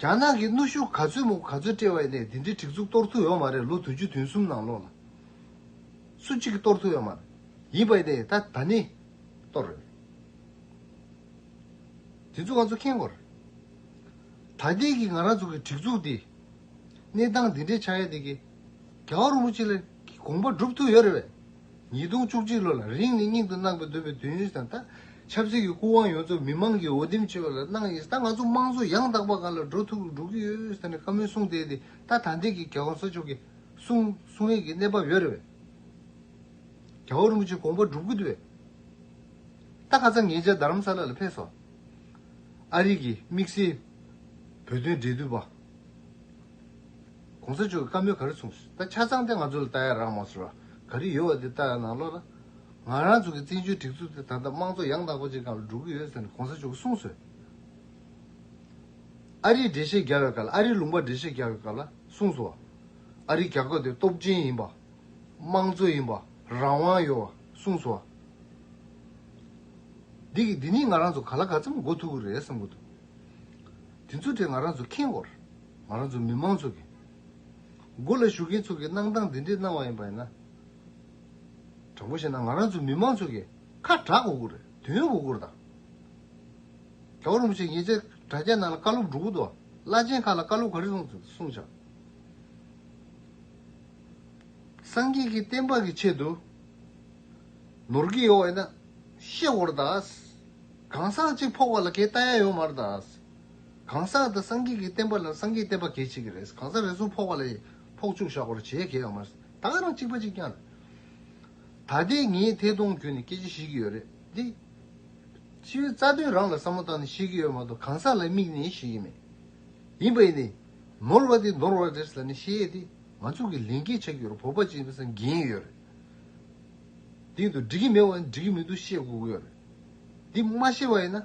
རྒྱ་ནག་གི་གནོད་ཤུགས་ག་ཚོད་མུག་ག་ཚོད་དཔྲལ་བའི་གནས་འདི་འདྲའི་གྲིག་ཚུགས་གཏོར་ཐུབ་ཡོད་མ་རེད་ལོ་དུ་ཅུ་དུན་གསུམ་ནང་ལོགས་ལ། སུ་གཅིག་གིས་གཏོར་ཐུབ་ཡོད་མ་རེད། ཡིན་པ་ནི་ད་ད་ནི། གཏོར་རེད། དེ་ཚོ་ང་ཚོ་མཁྱེན་དགོས་རེད། ད་ལྟའི་གི་ང་རང་ཚོ་གི་གྲིག་ཚུགས་འདི། གནས་སྟངས་འདི་འདྲའི་ཆགས་ཡས་འདི་གི། རྒྱ་བ་རུ་མུ་ཅི་ལེར་གི་དགོངས་པ་འགྲུབ་ཐུབ་ཡོད་རེད་བས། ཉིས་སྟོང་བཅུ་གཅིག་ལོ་ལ་རིང་ནས་སྙིང་དུ་བརྣག་པའི་འདོད་པའི་དོན་ཡུལ་དང་དང། ཆབ་སྲིད་ཀྱི་སྐུ་དབང་ཡོངས་རྫོགས་མི་དམངས་ཀྱིས་འོས་འདེམས་བྱས་པ་ལ་གནང་ཡིན་ད་ང་ཚོ་དམངས་གཙོ་ཡང་དག་པ་ག་ལ་འགྲོ་ཐུབ་འགྲོ་གི་ཡོད་ཟེར་ནས་བཀའ་མོལ་གསུང་བསྡད་དེ་ད་ད་འདས་ཀྱི་རྒྱལ་བ་ས་མཆོག་གི་གསུང་གསུང་ཡས་ཀྱི་གནས་བབ་ཡོད་རེད་བས། རྒྱལ་བ་རིན་པོ་ཆེ་དགོངས་པ་སྒྲུབ་གི་འདུག་བས། ད་ག་ཚང་ངེད་ཅག་རྡ་རམ་ས་ལ་ལ་ཕེབས་སོང། ཨ་རིག་གིས་དམིགས་བསལ་བོད་དོན་འབྲེལ་མཐུད་པ། གོང་ས་མཆོག་གི་བཀའ་མོལ་ག་རེ་མཚུངས་སོ། ད་ཆ་ཚང་དེ་ང་ཚོ་ལ་ལྟ་ཡ་རག་མ་སོ། ག་རེ་ཡོད་བ་དེ་ལྟ་ཡ་ན་ལོ་ད། ང་རང་ཚོ་གི་བཙན་བྱོལ་སྒྲིག་འཛུགས་དེ་ད་ལྟ་དམངས་གཙོ་ཡང་དག་པ་ཅིག་ག་ལ་འགྲོ་གི་ཡོད་ཟེར་ནས་གོང་ས་མཆོག་གི་གསུང་སོ། ཨ་རིའི་འགྲེལ་བཤད་རྒྱག་ཡོད་སྐབས་ལ་ཨ་རིའི་ལུང་པར་འགྲེལ་བཤད་རྒྱག་ཡོད་སྐབས་ལ་གསུང་སོ། ཨ་རིའི་རྒྱ་ཁབ་དེ་སྟོབས་ཆེན་ཡིན་པ། དམངས་གཙོ་ཡིན་པ། རང་དབང་ཡོད་བ་གསུང་སོ། འདི་གི་འདི་གཉིས་ང་རང་ཚོ་ག་ལ་ག་ཚོད་མ་འགོ་ཐུག་གི་རེད་བསམ་གི་འདུག། དེ་ཚོ་དེ་ང་རང་ཚོ་མཁྱེན་དགོས། ང་རང་ཚོ་མི་མང་ཚོ་གི་སྒོ་ལ་ཞུགས་མཁན་ཚོ་གིས་གནང་སྟངས་འདི་འདྲས་གནང་བ་ཡིན་པ་ཡིན་ན། དྲང་པོ་བཤད་ན་ང་རང་ཚོ་མི་མང་ཚོ་གི་ཁ་གྲགས་གོ་དགོས་རེད་དུས་ཡུན་གོ་དགོས་རེད་ད། དྲ་བ་རིན་པོ་ཆེ་ངེད་ཅག་དྲ་རྒྱ་ནང་ལ་བཀའ་སློབ་སྒྲུབ་གོ་དོ་བླ་ཆེན་ཁག་ལ་བཀའ་སློབ་ག་རེ་གསུངས་གསུངས་བྱ། སངས་རྒྱས་ཀྱི་བསྟན་པ་གི་ཆེད་དུ་ནོར་གྱི་ཡོད་བ་ཡིན་ན་བཤད་གོ་རེད་ད། གང་ཟག་གཅིག་ཕོག་པ་ལ་གས་ལྟ་ཡ་ཡོད་མ་རེད་ད། གང་ཟག་དང་སངས་རྒྱས་ཀྱི་བསྟན་པ་ལ་སངས་རྒྱས་བསྟན་པ་གལ་ཆེ་གི་རེད་གང་ཟག་རེ་ཟུང་ཕོག་པ་ལ་ཡིས་ཕོག་བཅུག་བཞག་གོར་བྱེད་གལ་ཡོད་མ་རེད་ད་རང་གཅིག་པ་གཅིག་རྐྱང་རེད་ད་ལྟའི་ངས་ཐད་གཏོང་བརྒྱུད་ནས་སྐད་ཆ་བཤད་ཀྱི་ཡོད་རེད་དེ། སྤྱི་བའི་རྩ་དོན་རང་ལ་བསམ་བློ་བཏང་ནས་བཤད་ཀྱི་ཡོད་མ་གཏོགས་གང་ཟག་ལ་དམིགས་ནས་བཤད་ཀྱི་མེད། ཡིན་པ་ཡིན་ནས། ནོར་བ་དེ་ནོར་བ་རེད་ཟེར་ནས་བཤད་ཡས་དེ་ང་ཚོ་གི་ལན་སྐྱེལ་བྱ་ཀྱི་ཡོད་རེད་བོད་པ་སྤྱི་བའི་སེམས་འགན་ཡོད་རེད་དེ། དེ་འདུག་འགྲིག་གི་མེད་བ་ནི་འགྲིག་གི་མི་འདུག་བཤད་དགོས་ཀྱི་ཡོད་རེད་དེ་མ་བཤད་པ་ཡིན་ན།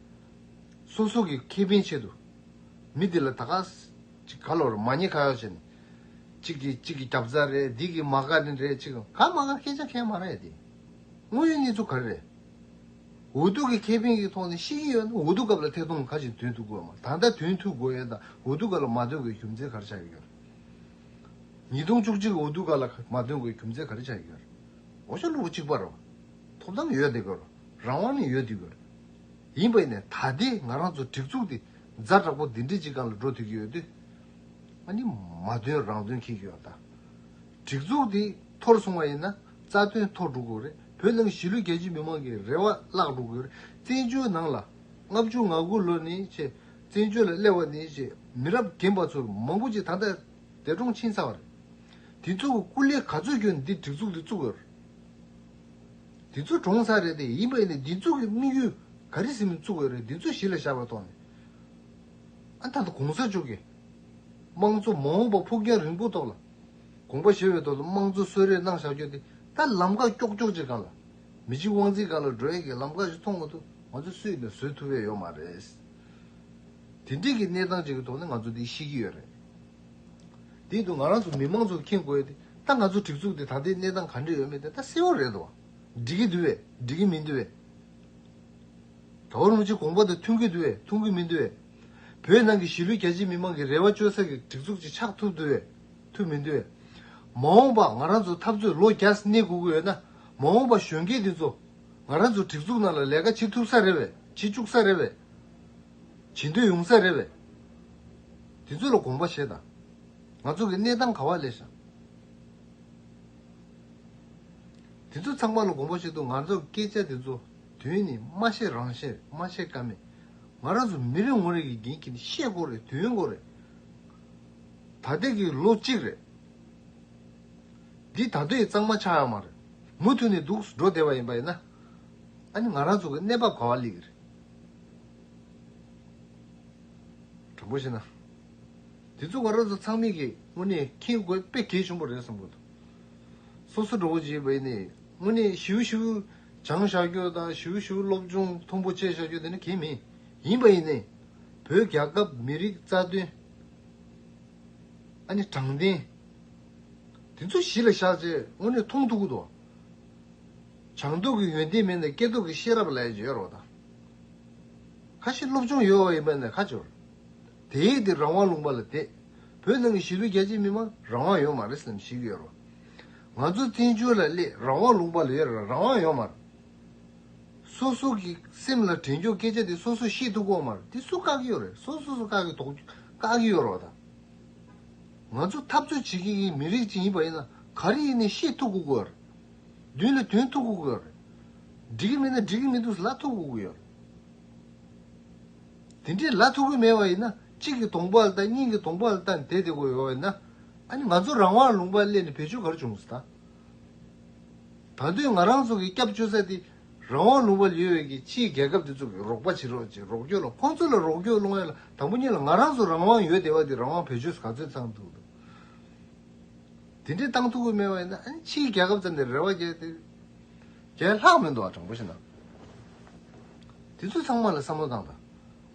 སོ་སོ་གི་ཁེ་ཕན་ཆེད་དུ། མི་འདི་ལ་ད་ག་ཅིག་ག་ལོར་མ་ཉེས་ཁ་ཡོག་བྱས་ནས། གཅིག་གིས་གཅིག་གི་རྒྱབ་རྩར་རེད་འདི་གིས་མ་དགའ་ནི་རེད་གཅིག་གིས་ག་མ་དགའ་སྐད་ཆ་ཁས་མ་ར་ཡ་དེ། དངོས་ཡོད་གནས་ཚུལ་ག་རེ་རེད། འུ་ཐུག་གི་ཁེ་ཕན་གི་ཐོག་ནས་ཤེས་ཀྱི་ཡོད་ན་འུ་ཐུག་སྐབས་ལ་ཐད་གཏོང་ག་ཅིག་དོན་ཐུག་དགོས་ཡོད་མ་ད་ལྟ་དོན་ཐུག་དགོས་ཡོད་དང་འུ་ཐུག་སྐབས་ལ་མ་དོན་དགོས་རྒྱུ་མཚན་ག་རེ་ཆགས་ཀྱི་ཡོད། ཉིས་སྟོང་བཅུ་གཅིག་འུ་ཐུག་སྐབས་ལ་མ་དོན་དགོས་རྒྱུ་མཚན་ག་རེ་ཆགས་ཀྱི་ཡོད། འོ་ཅོག་གློ་བུ་གཅིག་པར། ཐོབ་ཐང་ཡོད་དེ་དགོས། རང་དབང་ནི་ཡོད་དེ་དགོས། ཡིན་པས་ནས་ད་ལྟའི་ང་རང་ཚོ་སྒྲིག་འཛུགས་དེ་རྫ་དྲག་པོ་འདི་འདྲའི་ཅིག་ག་ལ་འགྲོ་ཐུབ་ཀྱི་ཡོད་དུས། ང་ནི་མ་དོན་རང་དོན་འཁེལ་གྱི་ཡོད་ད། སྒྲིག་འཛུགས་དེ་འཐོར་སོང་བ་ཡིན་ན་རྩ་དོན་འཐོར་འགྲོ་དགོས་རེད་བོད་ནང་གཞིས་ལུས་རྒྱ་ཆེའི་མི་མང་གི་རེ་བ་བརླག་འགྲོ་དགོས་རེད་བཙན་བྱོལ་ནང་ལ་ལྔ་བཅུ་ང་དགུ་ལོ་ནས་ཆེ་བཙན་བྱོལ་ལ་སླེབས་བ་ནས་ཆེ་མི་རབས་རྒན་པ་ཚོར་མང་པོ་ཅིག་ད་ལྟ་འདས་གྲོངས་ཕྱིན་ཚར་བ་རེད་དེ་ཚོ་གི་སྐུ་ལས་ག་ཚོད་ཁྱོད་འདི་སྒྲིག་འཛུགས་འདི་བཙུགས་ཡོད་རེད། འདི་ཚོ་གྲོངས་ས་རེད་དེ་ཡིན་པས་ནི་འདི་ཚོ་གི་དམིགས་ཡུལ་ག་རེ་ཟིན་མིན་བཙུགས་ཡོད་རེད་འདི་ཚོ་གཞི་ལ་བཞག་པ་ཐོག་ནས་ད་ལྟ་གོང་ས་མཆོག་གིས་དམངས་གཙོ་མ་འོངས་པ་ཕུགས་རྒྱང་རིང་པོ་ཐོག་ལ་དགོངས་པ་བཞེས་པའི་ཐོག་ལ་དམངས་གཙོ་གསོལ་རས་གནང་བཞག་རྒྱུ་དེ་ད་ལམ་ཀ་ཀྱོག་ཀྱོག་ཅིག་ག་ལ་མི་གཅིག་དབང་འཛིན་ག་ལ་འགྲོ་ཡས་ཀྱི་ལམ་ཀ་ཞིག་མཐོང་མ་ཐུབ་ང་ཚོ་སུས་ནས་བཟོད་ཐུབ་ཡས་ཡོད་མ་རེད། དེ་འདྲིས་ཀྱི་གནས་སྟངས་ཅིག་གི་ཐོག་ནས་ང་ཚོ་འདི་ཤི་གི་ཡོད་རེད། དེ་དུས་ང་རང་ཚོ་མི་མང་ཚོ་མཁྱེན་དགོས་ཏེ། ད་ང་ཚོ་སྒྲིག་འཛུགས་དེ་ད་ལྟའི་གནས་སྟངས་ག་འདྲས་ཡོད་མེད་དེ་ད་གསལ་བོ་རེད་དོ། འགྲིག་གི་འདུག་བས་འགྲིག་གི་མི་འདུག་བས། ད་བར་མུ་ཆེ་གོང་པོ་དང་མཐུན་གྱི་འདུག་བས་མཐུན་གྱི་མི་འདུག་བས། བོད་ནང་གི་གཞིས་ལུས་རྒྱ་ཆེའི་མི་མང་གི་རེ་བ་བཅོལ་ས་གི་སྒྲིག་འཛུགས་ཅིག་ཆགས་ཐུབ་འདུག་བས་ཐུབ་མི་འདུག་བས། མ་འོངས་པ་ང་རང་ཚོ་འཐབ་རྩོད་ལོ་བརྒྱ་གནས་དགོས་ཀྱི་ཡོད་ན། མ་འོངས་པ་གཞོན་སྐྱེས་འདི་ཚོ། ང་རང་ཚོ་སྒྲིག་འཛུགས་ནང་ལ་ལས་ཀ་བྱེད་ཐུབ་ས་རེད་བས་བྱེད་བཅུག་ས་རེད་བས། བྱེད་འདོད་ཡོང་ས་རེད་བས། དེ་ཚོ་ལ་དགོངས་པ་བཞེས་དང། ང་ཚོ་གི་གནས་སྟངས་ག་བ་ལས་ཤག། དེ་ཚོ་ཚང་མ་ལ་དགོངས་པ་བཞེས་འདུག་ང་ཚོ་གི་སྐད་ཆ་དེ་ཚོ་དོན་ནི་མ་བཤད་རང་བཤད་རེད་མ་བཤད་ཀ་མེད། ང་རང་ཚོ་མི་རེ་ངོ་རེ་གིས་འགན་འཁྱེར་ནས་བཤད་དགོས་རེད་དོན་གོ་རེད། ད་ལྟའི་གི་ལོ་གཅིག་རེད། འདི་ད་ལྟའི་གཙང་མ་ཆགས་ཡག་མ་རེད། མུ་མཐུད་ནས་འདུག་འགྲོ་བདེ་བ་ཡིན་པ་ཡིན་ན། ཨ་ནི་ང་རང་ཚོ་གི་གནས་བབ་ག་བ་ལེགས་རེད། དྲང་པོ་བཤད་ན། དེ་ཚོ་བ་རོ་ཚོ་ཚང་མིག་གིས་དངོས་གནས་མཁྱེན་དགོས་དཔེ་གལ་ཆེན་པོ་རེད་བསམ་གོ་ཐུབ། སོ་སོ་འགྲོ་བོ་བྱེད་པའི་ནས་དངོས་གནས་ཞིའུ་ཞིའུ་སྦྱང་བཞག་རྒྱུ་དང་ཞིའུ་ཞིའུ་སློབ་སྦྱོང་ཐུང་པོ་བྱས་བཞག་རྒྱུ་དེ་ནི་གལ་མིན། ཡིན་པ་ཡིན་ནས། བོད་རྒྱ་སྐབས་མི་རིགས་རྩ་དོན། ཨ་ནི་དྲང་བདེན། དེ་ཚོ་གཞི་ལ་བཞག་རྗེས་དངོས་གནས་མཐོང་ཐུག་གོ་ཐུབ། བྱང་སྡུག་གི་ཡོན་ཏན་མེད་ནས་སྐྱེ་སྡུག་གི་ཤེས་རབ་ལས་བྱོལ་རོགས་དང། ཁ་ཤི་སློབ་སྦྱོང་ཡོད་འོ་ཡིན་པ་ནས་ཁ་བྱོལ། དེ་ཡིག་དེ་རང་དབང་ལུང་པ་ལ་དེད། བོད་ནང་གི་གཞིས་ལུས་རྒྱ་ཆེ་མི་མང་རང་དབང་ཡོད་མ་རེད་བསམ་གཞིག་ཡོད་རོགས། ང་ཚོ་བཙན་བྱོལ་ལ་སླེ་རང་དབང་ལུང་པ་ལ་ཡོད་རང་དབང་ཡོད་མ་རེད། སོ་སོ་གི་སེམས་ལ་དྲན་ཆོག་སྐད་ཆ་དེ་སོ་སོས་ཤེས་ཐུབ་དགོས་མ་རེད་དེ་སུ་བཀག་གི་ཡོད་རེད་སོ་སོས་བཀག་གི་དོགས་བཀག་གི་ཡོད་རོགས་དང། ང་ཚོ་འཐབ་རྩོད་བྱེད་མཁན་གྱི་མི་རིགས་ཅིག་ཡིན་པ་ཡིན་ན་ག་རེ་ཡིན་ནས་ཤེས་ཐུབ་དགོས་དགོས་རེད། བདུན་ལ་བདུན་ཐུག་གུག་ཡོད། འགྲིག་གི་མེད་ན་འགྲིག་གི་མི་འདུག་ལ་ཐུག་གུག་ཡོད། དེ་འདྲའི་ལ་ཐུག་གི་མེད་པ་ཡིན་ན་གཅིག་གིས་དོང་པོ་ལ་བལྟ་གཉིས་ཀྱིས་དོང་པོ་ལ་བལྟ་ནས་དེད་དེ་གོ་ཡོད་པ་ཡིན་ན་ཨ་ནི་ང་ཚོ་རང་དབང་ལུང་པར་སླེབས་ནས་བེད་སྤྱོད་ག་རེ་བྱུང་སྟ། ད་དུས་ང་རང་ཚོ་གི་སྐྱབས་བཅོལ་ས་དེ་རང་དབང་ལུང་པར་ཡོད་བས་ཀྱི་ཕྱིའི་རྒྱལ་ཁབ་དེ་ཚོ་གི་རོགས་པ་བྱེད་རོགས་ཅེས་རོགས་སྐྱོར་ལ་ཁོང་ཚོ་ལ་རོགས་སྐྱོར་སློང་ཡ་ལ་དང་པོ་གཉིས་ལ་ང་རང་ཚོ་རང་དབང་ཡོད་བདེ་བ་དེ་རང་དབང་བེད་སྤྱོད་ག་ཚོད་ཚང་འདུག་དང། དེ་འདྲའི་ཏང་ཐུགས་ཁུར་དམན་བ་ཡིན་ན་ཨ་ཕྱིའི་རྒྱལ་ཁབ་ཙམ་ནས་རེ་བ་བརྒྱད་དེ་བརྒྱད་ལྷག་མི་འདུག་ཨ་དྲང་པོ་ཞིག་གནང། དེ་ཚོ་ཚང་མ་ལ་བསམ་བློ་བཏང་དང།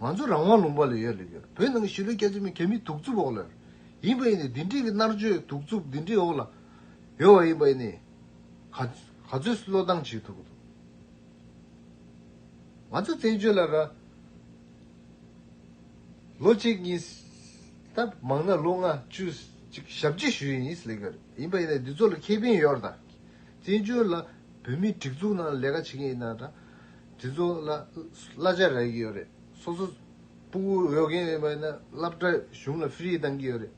ང་ཚོ་རང་དབང་ལུང་པ་ལ་ཡོད་ལ་ཡོད་བོད་ནང་གི་གཞིས་ལུས་སྐྱ་བཅོས་མི་གལ་མི་གདུག་རྩུབ་འོག་ལ་ཡིན་པ་ཡིན་ནས་འདི་འདྲིའི་གི་མནར་གཅོད་གདུག་རྩུབ་འདི་འདྲིའི་འོག་ལ་ཡོད་བ་ཡིན་པ་ཡིན་ནས་ག་ག་ཚོད་བསློ་བཏང་བྱེད་ཐུབ་ཀི་འདུག་ང་ཚོ་བཙན་བྱོལ་ལ་ར། ལོ་གཅིག་གཉིས། ད་མང་ན་ལོ་ལྔ་བཅུ། ཞབས་རྗེས་ཞུ་ཡི་ཡིན། ལས་ཀར་ཡིན་པ་ཡིན་ན་འདི་ཚོ་ལ་ཁེ་ཕན་ཡོད་དང། བཙན་བྱོལ་ལ་བོད་མི་སྒྲིག་འཛུགས་ནང་ལས་ཀ་བྱེད་མཁན་ཡིན་ན་དང། དེ་ཚོ་ལ་གླ་ཆ་རག་གི་ཡོད་རེད། སོ་སོ་སྤུ་གུ་ཡོད་མཁན་ཡིན་པ་ཡིན་ན་སླབ་གྲྭ་གཞུང་ལ་ཧྥེ་རི་གཏང་གི་ཡོད་རེད།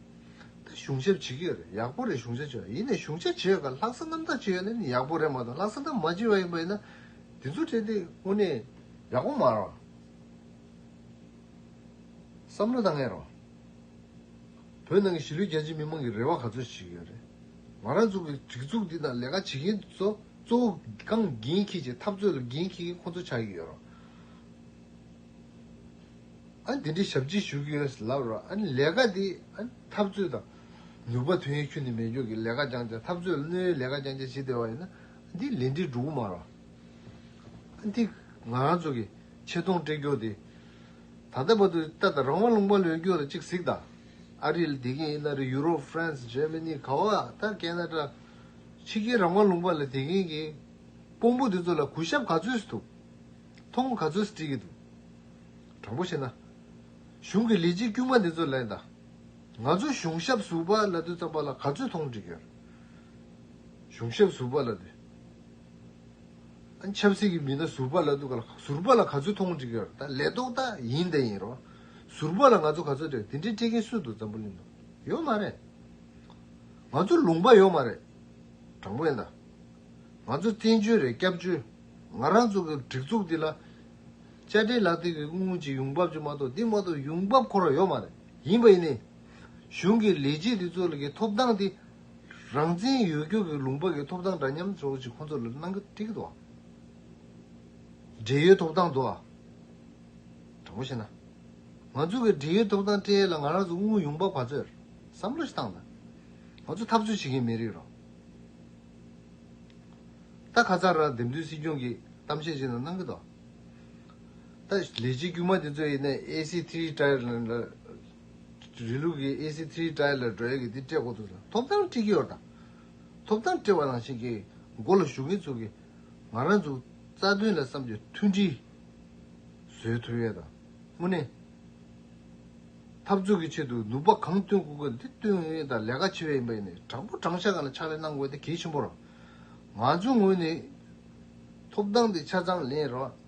ད་གཞུང་ཞབས་བྱེད་ཀྱི་ཡོད་རེད་ཡག་པོ་རེད་གཞུང་ཞབས་བྱེད་པ་ཡིན་ན་གཞུང་ཞབས་བྱེད་ཀ་ལྷག་བསམ་རྣམ་དག་བྱེད་ཡོད་ན་ནི་ཡག་པོ་རེད་མ་གཏོགས་ལྷག་བསམ་རྣམ་མ་བྱེད་པ་ཡིན་པ་ཡིན་ན། དེ་ཚོ་བྲལ་ཏེ་དངོས་གནས་ཡག་པོ་མ་རང། བསམ་བློ་གཏང་ངེས་རེད། བོད་ནང་གི་གཞིས་ལུས་རྒྱ་ཆེའི་མི་མང་གི་རེ་བ་ག་ཚོད་ཞིག་ཡོད་རེད། ང་རང་ཚོ་གི་སྒྲིག་འཛུགས་འདི་དང་ལས་ཀ་བྱེད་མཁན་ཚོ་གཙོ་བོ་རྐང་འགན་འཁྱེར་ཆེད་འཐབ་རྩོད་ལ་འགན་འཁྱེར་མཁན་ཁོང་ཚོ་ཆགས་ཀྱི་ཡོད་རེད། འདི་འདྲའི་ཞབས་ཕྱི་ཞུ་གི་ཡོད་ལབ་རོགས། ལས་ཀ་འདི་འཐབ་རྩོད་དང། ནུས་པ་དོན་ཡོད་ཁྱོན་ནས་མེད་སྐྱོར་གྱི་ལས་ཀ་རྐྱང་རྐྱང་འཐབ་རྩོད་སྣོལ་བའི་ལས་ཀ་རྐྱང་རྐྱང་བྱེད་བདེ་བ་ཡིན་ན། འདི་ལས་འབྲས་འགྲུབ་མ་རེད། འདི་ང་རང་ཚོ་གི། ཆེ་མཐོང་སྤྲད་རྒྱུ་དེ། ད་ལྟ་བར་དུ་ད་ལྟ་རང་དབང་ལུང་པ་ལོས་རྒྱུ་ལ་གཅིག་གཟིགས་དང། ཨ་རིལ་དེ་གིན་ཨི་ལ་རི་ཡུ་རོབ France Germany ག་བ་ད་ཀན་ན་ཀྲ། ཕྱི་རྒྱལ་རང་དབང་ལུང་པ་ལ་དེ་གིན་གིན། དཔོང་པོ་དེ་ཚོ་ལ་གུས་ཞབས་ག་ཚོས་ཐུབ། མཐོང་སྒོ་ག་ཚོས་བཀྲིས་གིན་འདུག། དྲང་པོ་བཤད་ན། གཞུང་གི་ལས་བྱེད་དཀྱུས་མ་འདི་ཚོ་ལས་ད། ང་ཚོ་གཞུང་ཞབས་ཟུར་པ་ལ་དུས་ཙམ་པ་ལ་ག་ཚོས་མཐོང་བཀྲིས་གིན། གཞུང་ཞབས་ཟུར་པ་ལ་དུས། ཆབ་སྲིད་ཀྱི་མི་སྣ་ཟུར་པ་ལ་གཏུག་ག་ཟུར་པ་ལ་ག་ཚོད་ཐོང་འགྲིག་ཡོད་ད་ལས་ཏོག་ད་ཡིན་ད་ཡིན་རོགས་ཟུར་པ་ལ་ང་ཚོ་ག་ཚོད་དེ་འདྲའི་སྤྲད་ཀྱིན་སུ་འདུག་འཛམ་བུ་གླིང་དུ་ཡོད་མ་རེད་ང་ཚོ་ལུང་པ་ཡོད་མ་རེད་དྲང་པོ་ཡིན་ད་ང་ཚོ་བཙན་བྱོལ་རེད་སྐྱབས་བཅོལ་ང་རང་ཚོ་གི་སྒྲིག་འཛུགས་འདི་ལ་བཅའ་ཁྲིམས་ལག་དེབ་ཀྱི་དངུལ་དངུལ་གྱི་ཡོང་འབབ་ཅིག་མ་གཏོགས་འདི་མ་གཏོགས་ཡོང་འབབ་འཁོར་བ་ཡོད་མ་རེད་ཡིན་པ་ཡིན་ནའི་གཞུང་གི་ལས་བྱེད་འདི་ཚོ་ལ་གི་ཐོབ་ཐང་དེ་རང་བཙན་ཡོད་རྒུ་གི་ལུང་པ་གི་ཐོབ་ཐང་འདྲ་མཉམ་རྫོགས་ཅིག་ཁོང་ཚོ་ལ་གནང་གི་འགྲིག་གི་འདུག་བགྲེས་ཡོལ་ཐོབ་ཐང་འདུག་ཨ། དྲང་པོ་བཤད་ན། ང་ཚོ་གི་བགྲེས་ཡོལ་ཐོབ་ཐང་སྤྲད་ཡས་ལ་ང་རང་ཚོ་དངུལ་ཡོང་པ་བ་ཚོས་བསམ་བློ་ཞིག་བཏང་ན། ང་ཚོ་འཐབ་རྩོད་བྱེད་མཁན་མི་རིགས་རང། ད་ཁ་ཚར་རང་འདེམས་ཐོན་སྲིད་སྐྱོང་གི་གཏམ་བཤད་ཅིག་ན་གནང་གི་འདུག་ཨ། ད་ལས་བྱེད་དཀྱུས་མ་དེ་ཚོ་ཡིན་ན་ཨེ་སི་ཐི་རི་ཏཱའི་ལ། རི་ལུགས་ཀྱི་ཨེ་སི་ཐིའི་ཏྲའི་ལ་འགྲོ་ཡ་གི་དེ་སྤྲད་དགོས་འདུག་ཟེར་ན་ཐོབ་ཐང་སྤྲི་གི་ཡོད་ར་དང། ཐོབ་ཐང་སྤྲད་བ་ནང་བཞིན་གྱི་མགོ་ལ་ཞུགས་ཀྱིན་ཚུགས་ཀྱི། ང་རང་ཚོ་རྩ་དོན་ལ་བསམ་གྱི་མཐུན་སྒྲིལ་བཟོས་ཐུབ་ཡོད་དང། དངོས་གནས། འཐབ་རྩོད་ཀྱི་ཆེད་དུ་ནུས་པ་གང་བཏོན་དགོས་དགོས་དེ་བཏོན་ངེས་ཡིན་དང་ལས་ཀ་ཆེ་བས་ཡིན་པ་ཡིན་ནས་དྲག་པོ་དྲང་ཤ་གང་ལ་ཕྱག་ལས་གནང་དགོས་དེ་གལ་ཆེན་པོ་ར། ང་ཚོའི་ངོས་ནས། ཐོབ་ཐང་དེ་ཆ་ཚང་ལེན་རོགས།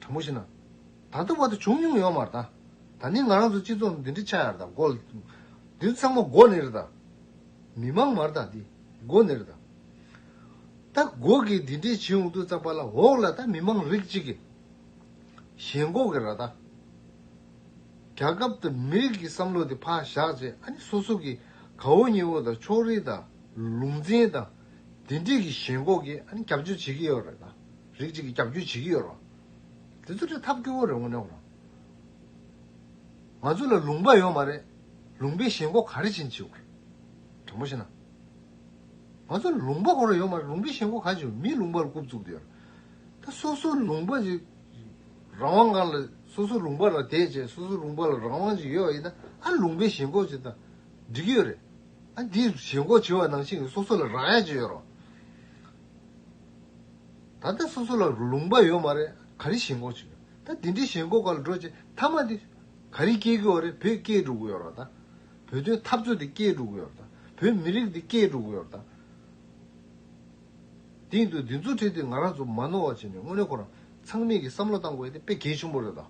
དྲང་པོ་བཤད་ན། ད་ལྟ་བར་དུ་བྱུང་མྱོང་ཡོད་མ་རེད་ད། ད་ནི་ང་རང་ཚོའི་སྤྱི་ཚོགས་ནང་འདི་འདྲའི་ཆགས་ཡ་རེད་ད་མགོ། འདི་ཚང་མ་མགོ་ནི་རེད་ད། མི་དམངས་མ་རེད་ད་འདི་མགོ་ནི་རེད་ད། ད་མགོ་གིས་འདི་འདྲའི་བྱེད་འོང་དུས་ཙང་པ་ལ་འོག་ལ་ད་མི་དམངས་རིགས་གཅིག་གི། ཞེན་མགོ་གི་རེད་ད། རྒྱ་ཁབ་ད་མི་རིགས་ཀྱི་བསམ་བློ་དེ་ཕར་བཞག་རྗེས་ཨ་ནི་སོ་སོ་གི་གའུ་སྙེ་བོ་ད་ཕྱོགས་རིས་ད་ལུང་འཛིན་ད། འདི་འདྲིས་ཀྱི་ཞེན་ཁོག་གིས་ཨ་ནི་རྒྱབ་སྐྱོར་བྱེད་ཀྱི་ཡོད་རེད་ད། རིགས་གཅིག་གིས་རྒྱབ་སྐྱོར་བྱེད་ཀྱི་ཡོད་རེད། དེ་ཚོ་ཁྲི་ཐབས་སྐྱོ་བོ་རེད་ངོ་ནའོ། ང་ཚོ་ལ་ལུང་པ་ཡོད་མ་རེད། ལུང་པའི་ཞེན་ཁོག་ག་རེ་བྱེད་ཅིའོ། དྲང་པོ་བཤད་ན། ང་ཚོ་ལ་ལུང་པ་གང་རུང་ཡོད་མ་རེད་ལུང་པའི་ཞེན་ཁོག་ག་བྱེད་མིའི་ལུང་པ་ལ་རྐུབ་བཙུགས་ཏེ་ཡོད་རེད། ད་སོ་སོའི་ལུང་པ་ཅིག་རང་དབང་གང་ལ་སོ་སོའི་ལུང་པ་ལ་དད་བྱེད་སོ་སོའི་ལུང་པ་ལ་རང་དབང་ཅིག་ཡོད་ཨ་ཡིན་ན་ཨ་ལུང་པའི་ཞེན་ཁོག་ཅིག་ད་འགྲིག་གི་ཡོད་རེད། འདིའི་བྱེད་སྒོ་བྱེད་པ་ནང་བཞིན་གྱི་སོ་སོ་ལ་རང་ཡ་ཅིག་ཡོད་རོགས། ད་ལྟ་སོ་སོ་ལ་ལུང་པ་ཡོད་མ་རེད་ག་རེ་བྱེད་འགོ་བྱེད་ད་འདི་འདྲའི་བྱེད་སྒོ་ག་ལ་འགྲོ་བྱེད་མཐའ་མ་འདི་ག་རེ་སྐྱེལ་གི་ཡོད་རེད་བོད་སྐྱེལ་འགྲོ་གི་ཡོད་རོགས་ད་བོད་དོན་འཐབ་རྩོད་འདི་སྐྱེལ་འགྲོ་གི་ཡོད་རོགས་ད་བོད་མི་རིགས་འདི་སྐྱེལ་འགྲོ་གི་ཡོད་རོགས་ད། དེ་ཡིན་དུས་འདི་ཚོ་ཁྲིད་དེ་ང་རང་ཚོ་མ་ནོར་བ་བྱེད་ནས་དངོས་གནས་ཁོ་རང་ཚང་མིག་གི་བསམ་བློ་བཏང་དགོས་ཡོད་དེ་དཔེ་གལ་ཆེན་པོ་རེད་ད།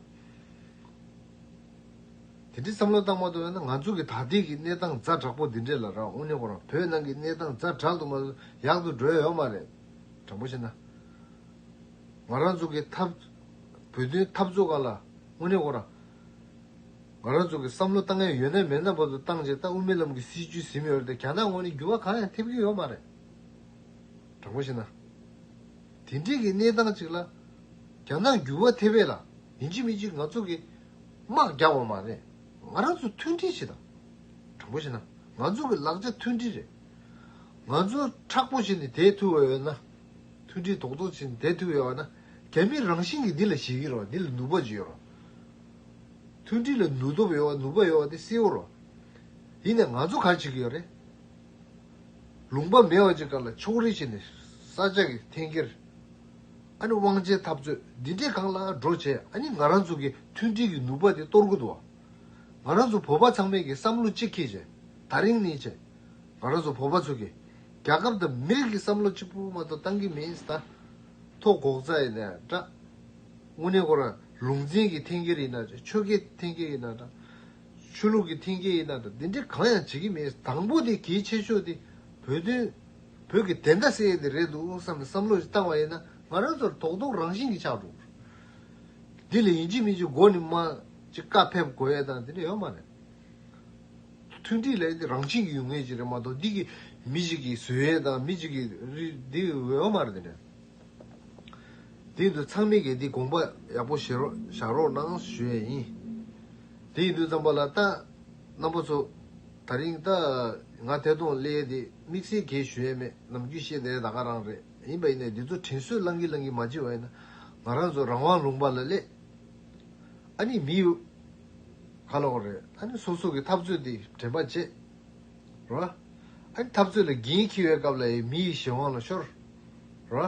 དེ་འདྲའི་བསམ་བློ་བཏང་མ་ཐུབ་ན་ང་ཚོ་གི་ད་ལྟའི་གི་གནས་སྟངས་རྫ་དྲག་པོ་འདི་འདྲས་ལ་རང་དབུ་ཉོ་ཁོར་བོད་ནང་གི་གནས་སྟངས་རྫ་དྲག་ཏུ་མ་ཡག་ཏུ་འགྲོ་ཡོད་མ་རེད། དྲང་པོ་བཤད་ན། ང་རང་ཚོ་གི་འཐབ། བོད་དོན་འཐབ་རྩོད་ཁག་ལ་དབུ་ཉོ་ཁོར། ང་རང་ཚོ་གི་བསམ་བློ་བཏང་ཡ་ཡོད་ན་མེད་ན་བར་དུ་བཏང་རྗེས་ད་དབུ་མེད་ལམ་གི་སྲིད་བྱུས་ཟིན་ཡོད་རེད་དེ་ག་ནང་ངོས་ནས་འགྱུར་བ་གང་ཡང་ཐེབས་གི་ཡོད་མ་རེད། དྲང་པོ་བཤད་ན། དེ་འདྲའི་གི་གནས་སྟངས་ཅིག་ལ། ག་ནང་འགྱུར་བ་ཐེབས་ཡས་ལ་ཡིན་གཅིག་མིན་གཅིག་ང་ཚོ་གི་དམག་རྒྱག་བ་མ་རེད། ང་རང་ཚོ་མཐུན་སྒྲིལ་བྱེད། དང་པོ་བྱེད་ན་ང་ཚོ་གི་ལག་ཆ་མཐུན་སྒྲིལ་རེད། ང་ཚོ་ཁྲག་པོ་བྱེད་ནི་དེ་ཐུ་བ་ཡོད་ན། མཐུན་སྒྲིལ་དོག་དོག་བྱེད་ནི་དེ་ཐུ་ཡོད་བ་ན། རྒྱ་མི་རང་བཞིན་གྱི་འདི་ལ་བྱེད་ཀྱི་རོགས་འདི་ལ་ནུས་པ་བྱེད་རོགས། མཐུན་སྒྲིལ་ལ་ནུས་སྟོབས་ཡོད་བ་ནུས་པ་ཡོད་བ་དེ་སེལ་ཡོད་རོགས། ཡིན་ནས་ང་ཚོ་ག་བྱེད་ཀྱི་ཡོད་རེད། ལུང་པ་མེ་བ་ཅིག་དགར་ལ་ཕྱོགས་རིས་བྱས་ནས་ས་ཆ་གི་འཐེན་འཁྱེར། ཨ་ནི་དབང་ཆའི་འཐབ་རྩོད་འདི་འདྲས་གང་ལ་འགྲོ་བྱས་ཨ་ནི་ང་རང་ཚོ་གི་མཐུན་སྒྲིལ་གྱི་ནུས་པ་དེ་གཏོར་དགོས་འདུག་བ། ང་རང་ཚོ་བོད་པ་ཚང་མས་ཀྱི་བསམ་བློ་གཅིག་ཁེ་བྱས་ད་རིང་ནས་བྱས། ང་རང་ཚོ་བོད་པ་ཚོ་གི་རྒྱ་ཁབ་དང་མི་རིགས་ཀྱི་བསམ་བློ་གཅིག་པུ་མ་གཏོགས་གཏང་གི་མིན་ད། ཐོ་འགོག་རྩ་ཡིན་ན་འདྲ། དངོས་གནས་ཁོ་རང་ལུང་འཛིན་གྱི་འཐེན་འཁྱེར་ཡིན་ན་འདྲ་ཆོལ་ཁའི་འཐེན་འཁྱེར་ཡིན་ན་འདྲ། ཆོས་ལུགས་ཀྱི་མཐིང་སྐྱེས་ཡིན་ན་དང་འདི་འདྲས་གང་ཡང་བྱེད་ཀྱི་མེད་དང་པོ་དེ་གལ་ཆེ་ཤོས་དེ་བོད་དོན་བོད་ཀྱི་བདེན་མཐའ་སེལ་ཡས་དེ་རེད་འདུག་བསམ་ནས་བསམ་བློ་ཞིག་བཏང་བ་ཡིན་ན་ང་རང་ཚོར་དོག་དོག་རང་བཞིན་གྱི་ཆགས་འགྲོ་གི་རེད་འདི་ལ་ཡིན་གཅིག་མིན་གཅིག་མགོ་ནས་མ་ཅིག་བཀའ་ཕེབས་དགོས་ཡས་དང་འདི་འདྲས་ཡོད་མ་རེད། མཐུན་སྒྲིག་ལ་ཡིན་དེ་རང་བྱེད་ཀྱི་ཡོད་ངེས་ཅིག་རེད་མ་གཏོགས་འདི་གིས་མི་གཅིག་གིས་བཟོས་ཡས་དང་མི་གཅིག་གིས་རིགས་འདི་ཡོད་མ་རེད་འདི་འདྲས། དེ་འདུག་ཚང་མིག་གིས་འདི་དགོངས་པ་ཡག་པོ་བཞེས་རོགས་བཞག་རོགས་གནང་ཞུ་ཡས་ཡིན། དེ་ཡིན་དུས་རྩམ་པ་ལ་ལྟ། རྣམ་པ་ཚོ། ད་རིང་ལྟ། ང་ཐད་གཏོང་ཀླད་དེ་དམིགས་བསལ་གས་ཞུ་ཡས་མེད་ནམ་རྒྱུས་བཤད་ལས་ད་ག་རང་རེད་ཡིན་པ་ཡིན་ནའི་འདི་ཚོ་དྲིན་གསོས་བླང་གིན་བླང་གིན་མ་བྱེད་བ་ཡིན་ན་ང་རང་ཚོ་རང་དབང་ལུང་པ་ལ་ཀླད་ཨ་ནི་མི་ཡོད་ག་ལོག་རེད་ཨ་ནི་སོ་སོ་གི་འཐབ་རྩོད་དེ་དྲན་པ་བྱེད། རོ། ཨཱ། འཐབ་རྩོད་ལ་འགན་འཁྱེར་བའི་སྐབས་ལ་ཡང་མི་ཡི་གཞན་དབང་ལ་ཤོར། རོ།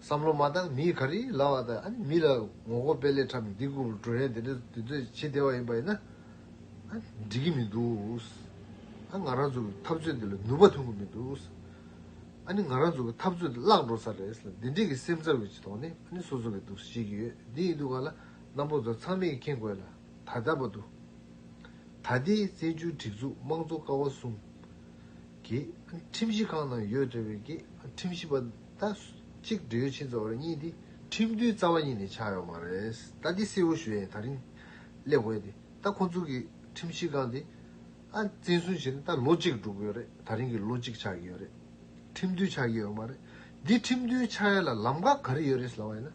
བསམ་བློ་མ་བཏང་མི་ཡིས་ག་རེ་ལབ་བ་དང་ཨཱ་ནི་མི་ལ་ངོ་རྒོལ་སྤེལ་སླད་ཁྲམ་འདི་རྐུབ་བྲོ་ཡན་དེ་འདྲ་དེ་ཚོས་བྱེད་བདེ་བ་ཡིན་པ་ཡིན་ན། ཨཱ། འགྲིག་གི་མི་འདུག། ཨཱ། ང་རང་ཚོ་གི་འཐབ་རྩོད་འདི་ལ་ནུས་པ་ཐོན་གི་མི་འདུག། ཨཱ་ནི་ང་རང་ཚོ་གི་འཐབ་རྩོད་འདི་བརླག་འགྲོ་ས་རེད་ལ་འདི་འདྲིའི་གི་སེམས་འཚབ་ཡོད་ཅེས་དོགས་ནས་ཨཱ་ནི་སོ་སོ་གི་འདུག་ཟེར་གྱི་ཡོད་དེ་ཡིན་དུས་ང་ལ་རྣམ་པོ་ཚོ་ཚང་མས་མཁྱེན་དགོས་ལ། ད་ལྟ་བར་དུ། ད་ལྟའི་བཙན་བྱོལ་སྒྲིག་འཛུགས་དམངས་གཙོ་ཀ་བ་གསུམ། གྱི། ཁྲིམས་གཞི་ཁང་ནང་ཡོད་འདྲ་བའི་ཀྱི། ཁྲིམས་གཞི་པ། ད། གཅིག་འབྲེལ་ཡོད་ཆེན་ཚོ་བར་གཉིས་ཏེ། ཁྲིམས་མཐུན་རྩ་བ་ཉིད་ནས་ཆགས་ཡོད་མ་རེད། ད་འདི་སེར་བོ་ཞུ་ཡས་ད་རིང། སླེབས་དགོས་ཏེ། ད་ཁོ་ཚོ་གྱི། ཁྲིམས་གཞི་ཁང་དེ། ཨ། བཙན་བཟུང་བྱས་ནས་ད་ལོ་གཅིག་འགྲོ་གི་ཡོད་རེད། ད་རིང་གི་ལོ་གཅིག་ཆགས་ཀྱི་ཡོད་རེད། ཁྲིམས་མཐུན་ཆགས་ཀྱི་ཡོད་མ་རེད། འདི་ཁྲིམས་མཐུན་ཆགས་ཡས་ལ་ལམ་ཁ་ག་རེ་ཡོད་རེད་ཟེར་བ་ཡིན་ན།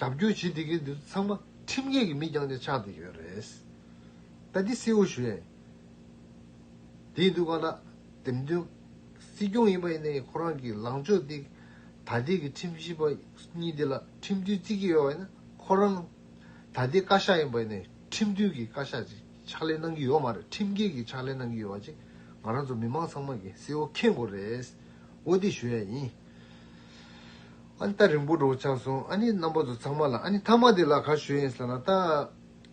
རྒྱབ་སྐྱོར་བྱེད་བདེ་མཁན་འདིར་ཚང་མ་ཁྲིམས་འགལ་གྱི་མི་རྐྱང་ནས་ཆགས་བསྡད་ཡོད་རེད། ད་འདི་སེའུ་བཞུ་ཡན་དེའི་འདུག་ག་ན་འདེམས་ཐོན་སྲིད་སྐྱོང་ཡིན་པ་ཡིན་ནའི་ཁོ་རང་གི་ལངས་ཕྱོགས་འདི་ད་ལྟའི་གི་ཁྲིམས་ཞིབ་པ་གཉིས་འདི་ལ་ཁྲིམས་མཐུན་རྩིས་ཀྱི་ཡོད་པ་ཡིན་ན་ཁོ་རང་ད་ལྟའི་བཀའ་ཤག་ཡིན་པ་ཡིན་ནའི་ཁྲིམས་མཐུན་གྱི་བཀའ་ཤག་ཅིག་ཕྱག་ལས་གནང་གྱི་ཡོད་མ་རེད་ཁྲིམས་འགལ་གྱི་ཕྱག་ལས་གནང་གྱི་ཡོད་པ་ཅིག་ང་རང་ཚོ་མི་མང་ཚང་མ་གི་སེའུ་ཁེངས་དགོས་རེད་འོ་འདི་བཞུ་ཡན་ཡིན་ཨ་ནི་ད་རིང་པོ་འགྲོ་ཆགས་སོང་ཨ་ནི་རྣམ་པ་ཚོ་ཚང་མ་ལ་ཨ་ནི་ཐ་མག་འདི་ལ་ག་ཞོལ་ཡིན་ཟེར་ན་ད་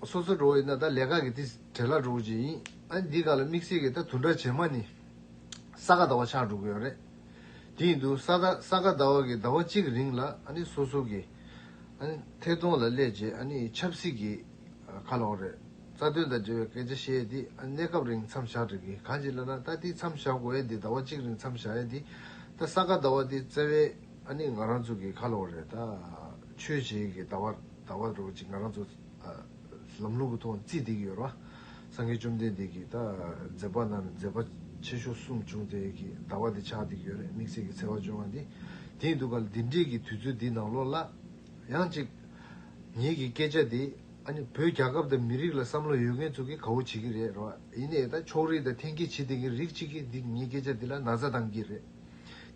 སོ་སོ་འགྲོ་ཡིན་ན་ད་ལས་ཀ་གི་དེ་བྲེལ་ལ་འགྲོ་གི་ཡིན་ཨ་ནི་འདི་ག་ལ་དམིགས་བསལ་གི་ད་དུ་འདྲ་བྱེད་མ་ནི་ས་ག་ཟླ་བ་ཆགས་འགྲོ་གི་ཡོད་རེད་དེ་ཡིན་དུ་ས་ད་ས་ག་ཟླ་བ་གི་ཟླ་བ་གཅིག་རིང་ལ་ཨ་ནི་སོ་སོ་གི་ཨ་ནི་ཐད་གཏོང་ལ་སླེབས་རྗེས་ཨ་ནི་ཆབ་སྲིད་ཀྱི་ཁ་ལོག་རེད་རྩ་དོན་དང་འབྲེལ་བའི་སྐད་ཆ་བཤད་ཡས་དེ་ཨ་ནི་གནས་སྐབས་རིང་མཚམས་བཞག་དགྲིག་གི་གང་ཅི་ལ་ན་ད་འདི་མཚམས་བཞག་དགོས་ཡས་འདི་ཟླ་བ་གཅིག་རིང་མཚམས་བཞག་ཡས་འདི་ད་ས་ག་ཟླ་བ་འདི་བཙལ་བའི། ཨ་ནི་ང་རང་ཚོ་གི་ཁ་ལོ་རེད་ད། ཆོས་བྱེད་གི་ད་བ་ད་བ་རོ་ཅིག་ང་རང་ཚོ། ལམ་ལུག་གི་ཐོག་བརྩིས་བསྡིགས་ཡོད་ར། སངས་རྒྱས་བཅོམ་ལྡན་འདས་ཀྱིས་ད། མཛད་པ་རྣམས་མཛད་པ་ཆེ་ཤོ་གསུམ་བྱུང་དེ་གི་ད་བ་དེ་ཆགས་བསྡིགས་ཡོད་རེད་དམིགས་བསལ་གི་འཚེ་བ་སྦྱོང་བ་འདི། དེའི་འདུག་ག་འདི་འདྲིས་གི་དུས་ཚོད་འདི་ནང་ལོག་ལ། ཡང་ཅིག། ངེད་ཀྱི་སྐད་ཆ་འདི། ཨ་ནི་བོད་རྒྱ་ཁབ་དང་མི་རིགས་ལ་བསམ་བློ་ཡོད་མཁན་ཚོ་གི་ག་བོ་བྱེད་གི་རེད་ར་བ། ཡིན་ནའི་ད་ཕྱོགས་རིགས་དང་ཐེན་སྐྱེད་བྱེད་བསྡིགས་གི་རིགས་ཅིག་གི་འདི་ངའི་སྐད་ཆ་འདི་ལ་ན་ཚ་བཏང་གི་རེད།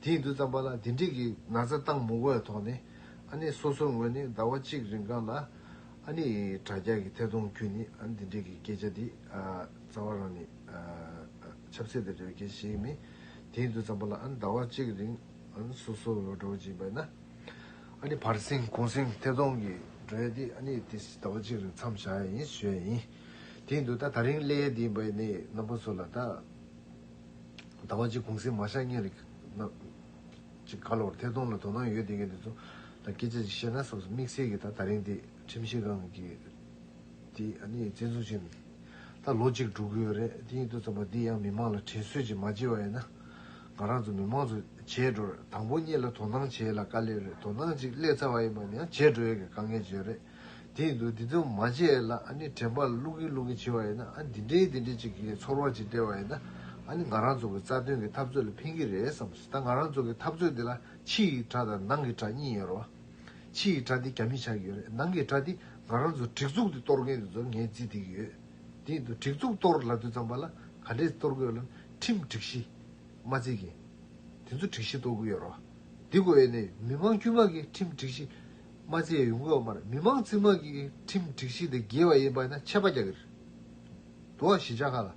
དེའི་འདུ་བརྩམས་པ་ལ་འདི་འགྲིག་གི་ན་ཚ་བཏང་མུ་བོའི་ཐོག་ནས་ཨ་ནེ་སོ་སོའི་ངོས་ནས་ཟླ་བ་གཅིག་རིང་གང་ལ་ཨ་ནེ་ཡི་དྲ་རྒྱ་གི་ཐད་གཏོང་བརྒྱུད་ནས་ཨ་ནེ་འདི་འགྲིག་གི་སྐད་ཆ་འདི་རྩ་བ་རང་ནས་ཆབ་སྲིད་ལ་རེ་བ་མཁན་ཞིག་མིན། དེའི་འདུ་བརྩམས་པ་ལ་ཨ་ནེ་ཟླ་བ་གཅིག་རིང་སོ་སོའི་འོས་སྒྲོག་བགྱིས་པ་ན་ཨ་ནེ་བར་གསེང་གུང་གསེང་ཐད་གཏོང་གི་འགྲོ་ཡ་འདི་ཨ་ནེ་ཡི་དེ་ཟླ་བ་གཅིག་རིང་མཚམས་བཞག་ཡ་ཡིན་ཞུ་ཡ་ཡིན། དེའི་འདུ་ད་ད་རིང་སླེ་ཡ་འདི་འབའ་ནེའི་རྣམ་པ་ཚོ་ལ་ད། ཟླ་བ་གཅིག་གུང་གསེང་མ་ཤར་གཉིད་ལ་ཅིག་ག་ལོར་ཐད་གཏོང་ལ་དོ་སྣང་ཡོད་དེ་གནས་ཚུལ་ལ་སྐད་ཆ་ཅིག་བཤད་ན་སོགས་དམིགས་བསལ་གྱིས་ད་ད་རིང་འདི་ཁྲིམས་ཞིབ་ཁང་གི་དེ་གཉིས་རྩད་འཛུགས་བྱས་ནས་ད་ལོ་གཅིག་དྲུག་དགོས་རེད་དེ་གཉིས་ཐུག་ཙམ་པ་འདི་ཡང་མི་མང་ལ་དྲིན་གསོས་ཅིག་མ་བྱེད་པ་ཡིན་ན་ང་རང་ཚོ་མི་མང་ཚོ་བྱས་འགྲོ་རེད་དང་པོ་གཉིད་ལ་དོ་སྣང་བྱས་ལ་དཀའ་ལས་རེད་དོ་སྣང་ཅིག་སླེབས་ཚར་བ་ཡིན་པ་ནི་ཡང་བྱས་འགྲོ་ཡོད་ཀྱི་དཀའ་ངལ་བརྗོད་རེད། དེའི་འདུག་འདི་ཚོ་མ་བྱས་ལ་ཨ་ནི་དྲན་པ་བླུག་གིན་བླུག་གིན་བྱེད་པ་ཡིན་ན་ཨ་འདི་འདྲའི་འདི་འདྲའི་ཅིག་གིས་ཚོར་བ་ཅིག་སྤྲད་པ་ཡིན་ན་ཨ་ནི་ང་རང་ཚོ་གི་རྩ་དོན་གྱི་འཐབ་རྩོད་ལ་ཕན་གྱི་རེད་བསམ་སྲིད་ད་ང་རང་ཚོ་གི་འཐབ་རྩོད་འདི་ལ་ཕྱི་ཡི་དགྲ་དང་ནང་གི་དགྲ་གཉིས་ཡོད་རེད་བ། ཕྱི་ཡི་དགྲ་འདི་རྒྱ་མི་ཆགས་ཀྱི་ཡོད་རེད་ནང་གི་དགྲ་འདི་ང་རང་ཚོ་སྒྲིག་འཛུགས་འདི་གཏོར་མཁན་འདི་ཚོར་ངས་རྩིས་སྟེར་གྱི་ཡོད། དེའི་འདུག་སྒྲིག་འཛུགས་གཏོར་ལ་དུས་ཙམ་པ་ལ་ག་འདྲས་གཏོར་དགོས་ལམ་ཁྲིམས་སྒྲིག་གཞི། མ་རྩིས་གིན། དེ་ཚོ་སྒྲིག་གཞི་གཏོར་དགོས་ཡོད་རེད་བ། འདི་གོ་ཨེ་ནས་མི་མང་དཀྱུས་མ་གིས་ཁྲིམས་སྒྲིག་གཞི། རྨ་ཆེན་ཡོང་སྐབས་མར་མི་མང་རྩིས་མང་གིས་ཁྲིམས་སྒྲིག་གཞི་དེ་འགལ་བ་ཡིན་པ་ཡིན་ན་ཆད་པ་རྒྱག་གི་རེད། དུ་བ་གཞིས་ཆགས་ཁག་ལ་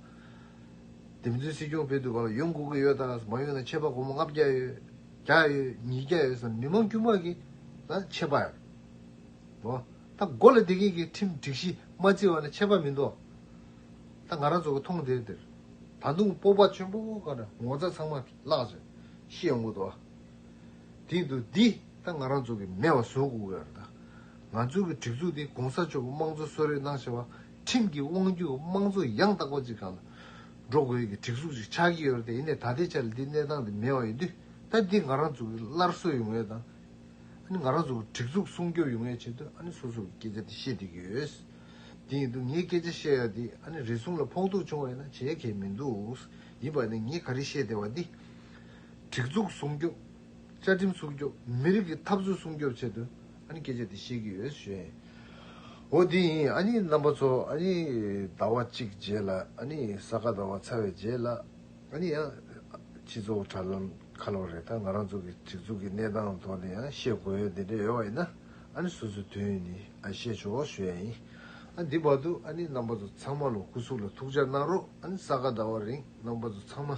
འདེམས་བརྩོན་སྲིད་སྐྱོང་ཕེབས་དུས་ག་ལ་ཡོང་དགོས་ཀྱི་ཡོད་དང་མ་ཡོང་ན་ཆད་པ་སྒོར་མོ་ལྔ་བརྒྱ་ཡོད་བརྒྱ་ཡོད་ཉིས་བརྒྱ་ཡོད་ཟེར་ན་མི་མང་དཀྱུས་མ་གིས་ན་ཆད་པ་ཡོད། དུ་བ་ད་མགོ་ལ་དེ་སྐད་གིས་ཁྲིམས་སྒྲིག་གཞི་མ་རྩིས་བ་ན་ཆད་པ་མིན་དུ་བ་ད་ང་རང་ཚོ་གིས་མཐོང་དེར་དེར་ད་དུང་སྤོབས་པ་ཆེན་པོ་ག་ན་ངོ་ཚ་ཚང་མ་བརླག་ཅིང་ཤི་ཡོང་གི་དུ་བ། དེང་དུ་འདི་ད་ང་རང་ཚོ་གི་མེད་བ་བཟོ་དགོས་ཀྱི་ཡོད་རེད་ད། ང་ཚོའི་གི་སྒྲིག་འཛུགས་དེ་གོང་ས་མཆོག་གི་དམངས་གཙོ་གསོལ་རས་གནང་བྱས་པ་ཁྲིམས་ཀྱི་དབང་བརྒྱུད་དམངས་གཙོ་ཡང་དག་པ་ཅིག་ག་ལ་འགྲོ་དགོས་ཀྱི་སྒྲིག་འཛུགས་ཅིག་ཆགས་ཀྱི་ཡོད་རེད་ད་ཡིན་ནའི་ད་ལྟའི་ཆ་ལ་འདི་གནས་སྟངས་དེ་མེད་བ་ཡིན་དུས་ད་འདི་ང་རང་ཚོ་གི་སླར་གསོ་ཡོང་བའི་ད་ནི་ང་རང་ཚོ་གི་སྒྲིག་འཛུགས་སྲུང་སྐྱོབ་ཡོང་བའི་ཆེད་དུ་ཨ་ནི་སོ་སོ་གི་སྐད་ཆ་དེ་བཤད་བསྡད་ཀྱི་ཡོད། དེ་ཡིན་དུས་ངས་སྐད་ཆ་བཤད་ཡག་དེ་ཨ་ནི་རེ་ཟུང་ལ་ཕོག་ཐུག་བྱུང་བ་ཡིན་ན་བྱས་གལ་མི་འདུག་ཡིན་པ་ནི་ངས་ག་རེ་བཤད་བསྡད་པ་འདི། སྒྲིག་འཛུགས་སྲུང་སྐྱོབ། བཅའ་ཁྲིམས་སྲུང་སྐྱོབ། མི་རིགས་ཀྱི་འཐབ་རྩོད་སྲུང་སྐྱོབ་ཆེད་དུ་ཨ་ནི་སྐད་ཆ་འདི་བཤད་ཀྱི་ཡོད། ཞོའོ། འོ་དེ་ཡིན་ཨ་ནི་རྣམ་པ་ཚོ་ཨ་ནི་ཟླ་བ་གཅིག་རྗེས་ལ་ཨ་ནི་ས་ག་ཟླ་བ་ཚར་བའི་རྗེས་ལ་ཨ་ནི་ཡང་སྤྱི་ཚོགས་དྲ་ལམ་ཁ་ལོ་རེ་ད་ང་རང་ཚོ་གི་སྒྲིག་འཛུགས་ཀྱི་གནས་སྟངས་ཐོག་ནས་ཡང་བཤད་དགོས་ཡོད་འདི་འདྲ་ཡོད་བ་ཡིན་ན་ཨ་ནི་སོ་སོའི་དོན་ཡིན་ཨ་བཤད་ཆོག་ཞོའོ་ཡིན་ཨ་འདི་བར་དུ་ཨ་ནི་རྣམ་པ་ཚོ་ཚང་མ་ལོ་སྐུ་གཟུགས་ལ་ཐུགས་འཇགས་གནང་རོགས་ཨ་ནི་ས་ག་ཟླ་བ་རིང་རྣམ་པ་ཚོ་ཚང་མ།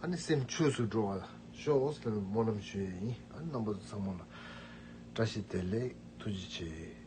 ཨ་ནི་སེམས་ཆོས་སུ་འགྲོ་བར་ཤོག་ཨོ་སི་ལ་རི་མོ་རྣམས་ཞུ་ཡས་ཡིན་ཨ་ནི་རྣམ་པ་ཚང་མ་ལ་བཀྲ་ཤིས་བདེ་ལེགས་ཐུགས་རྗེ་ཆེ།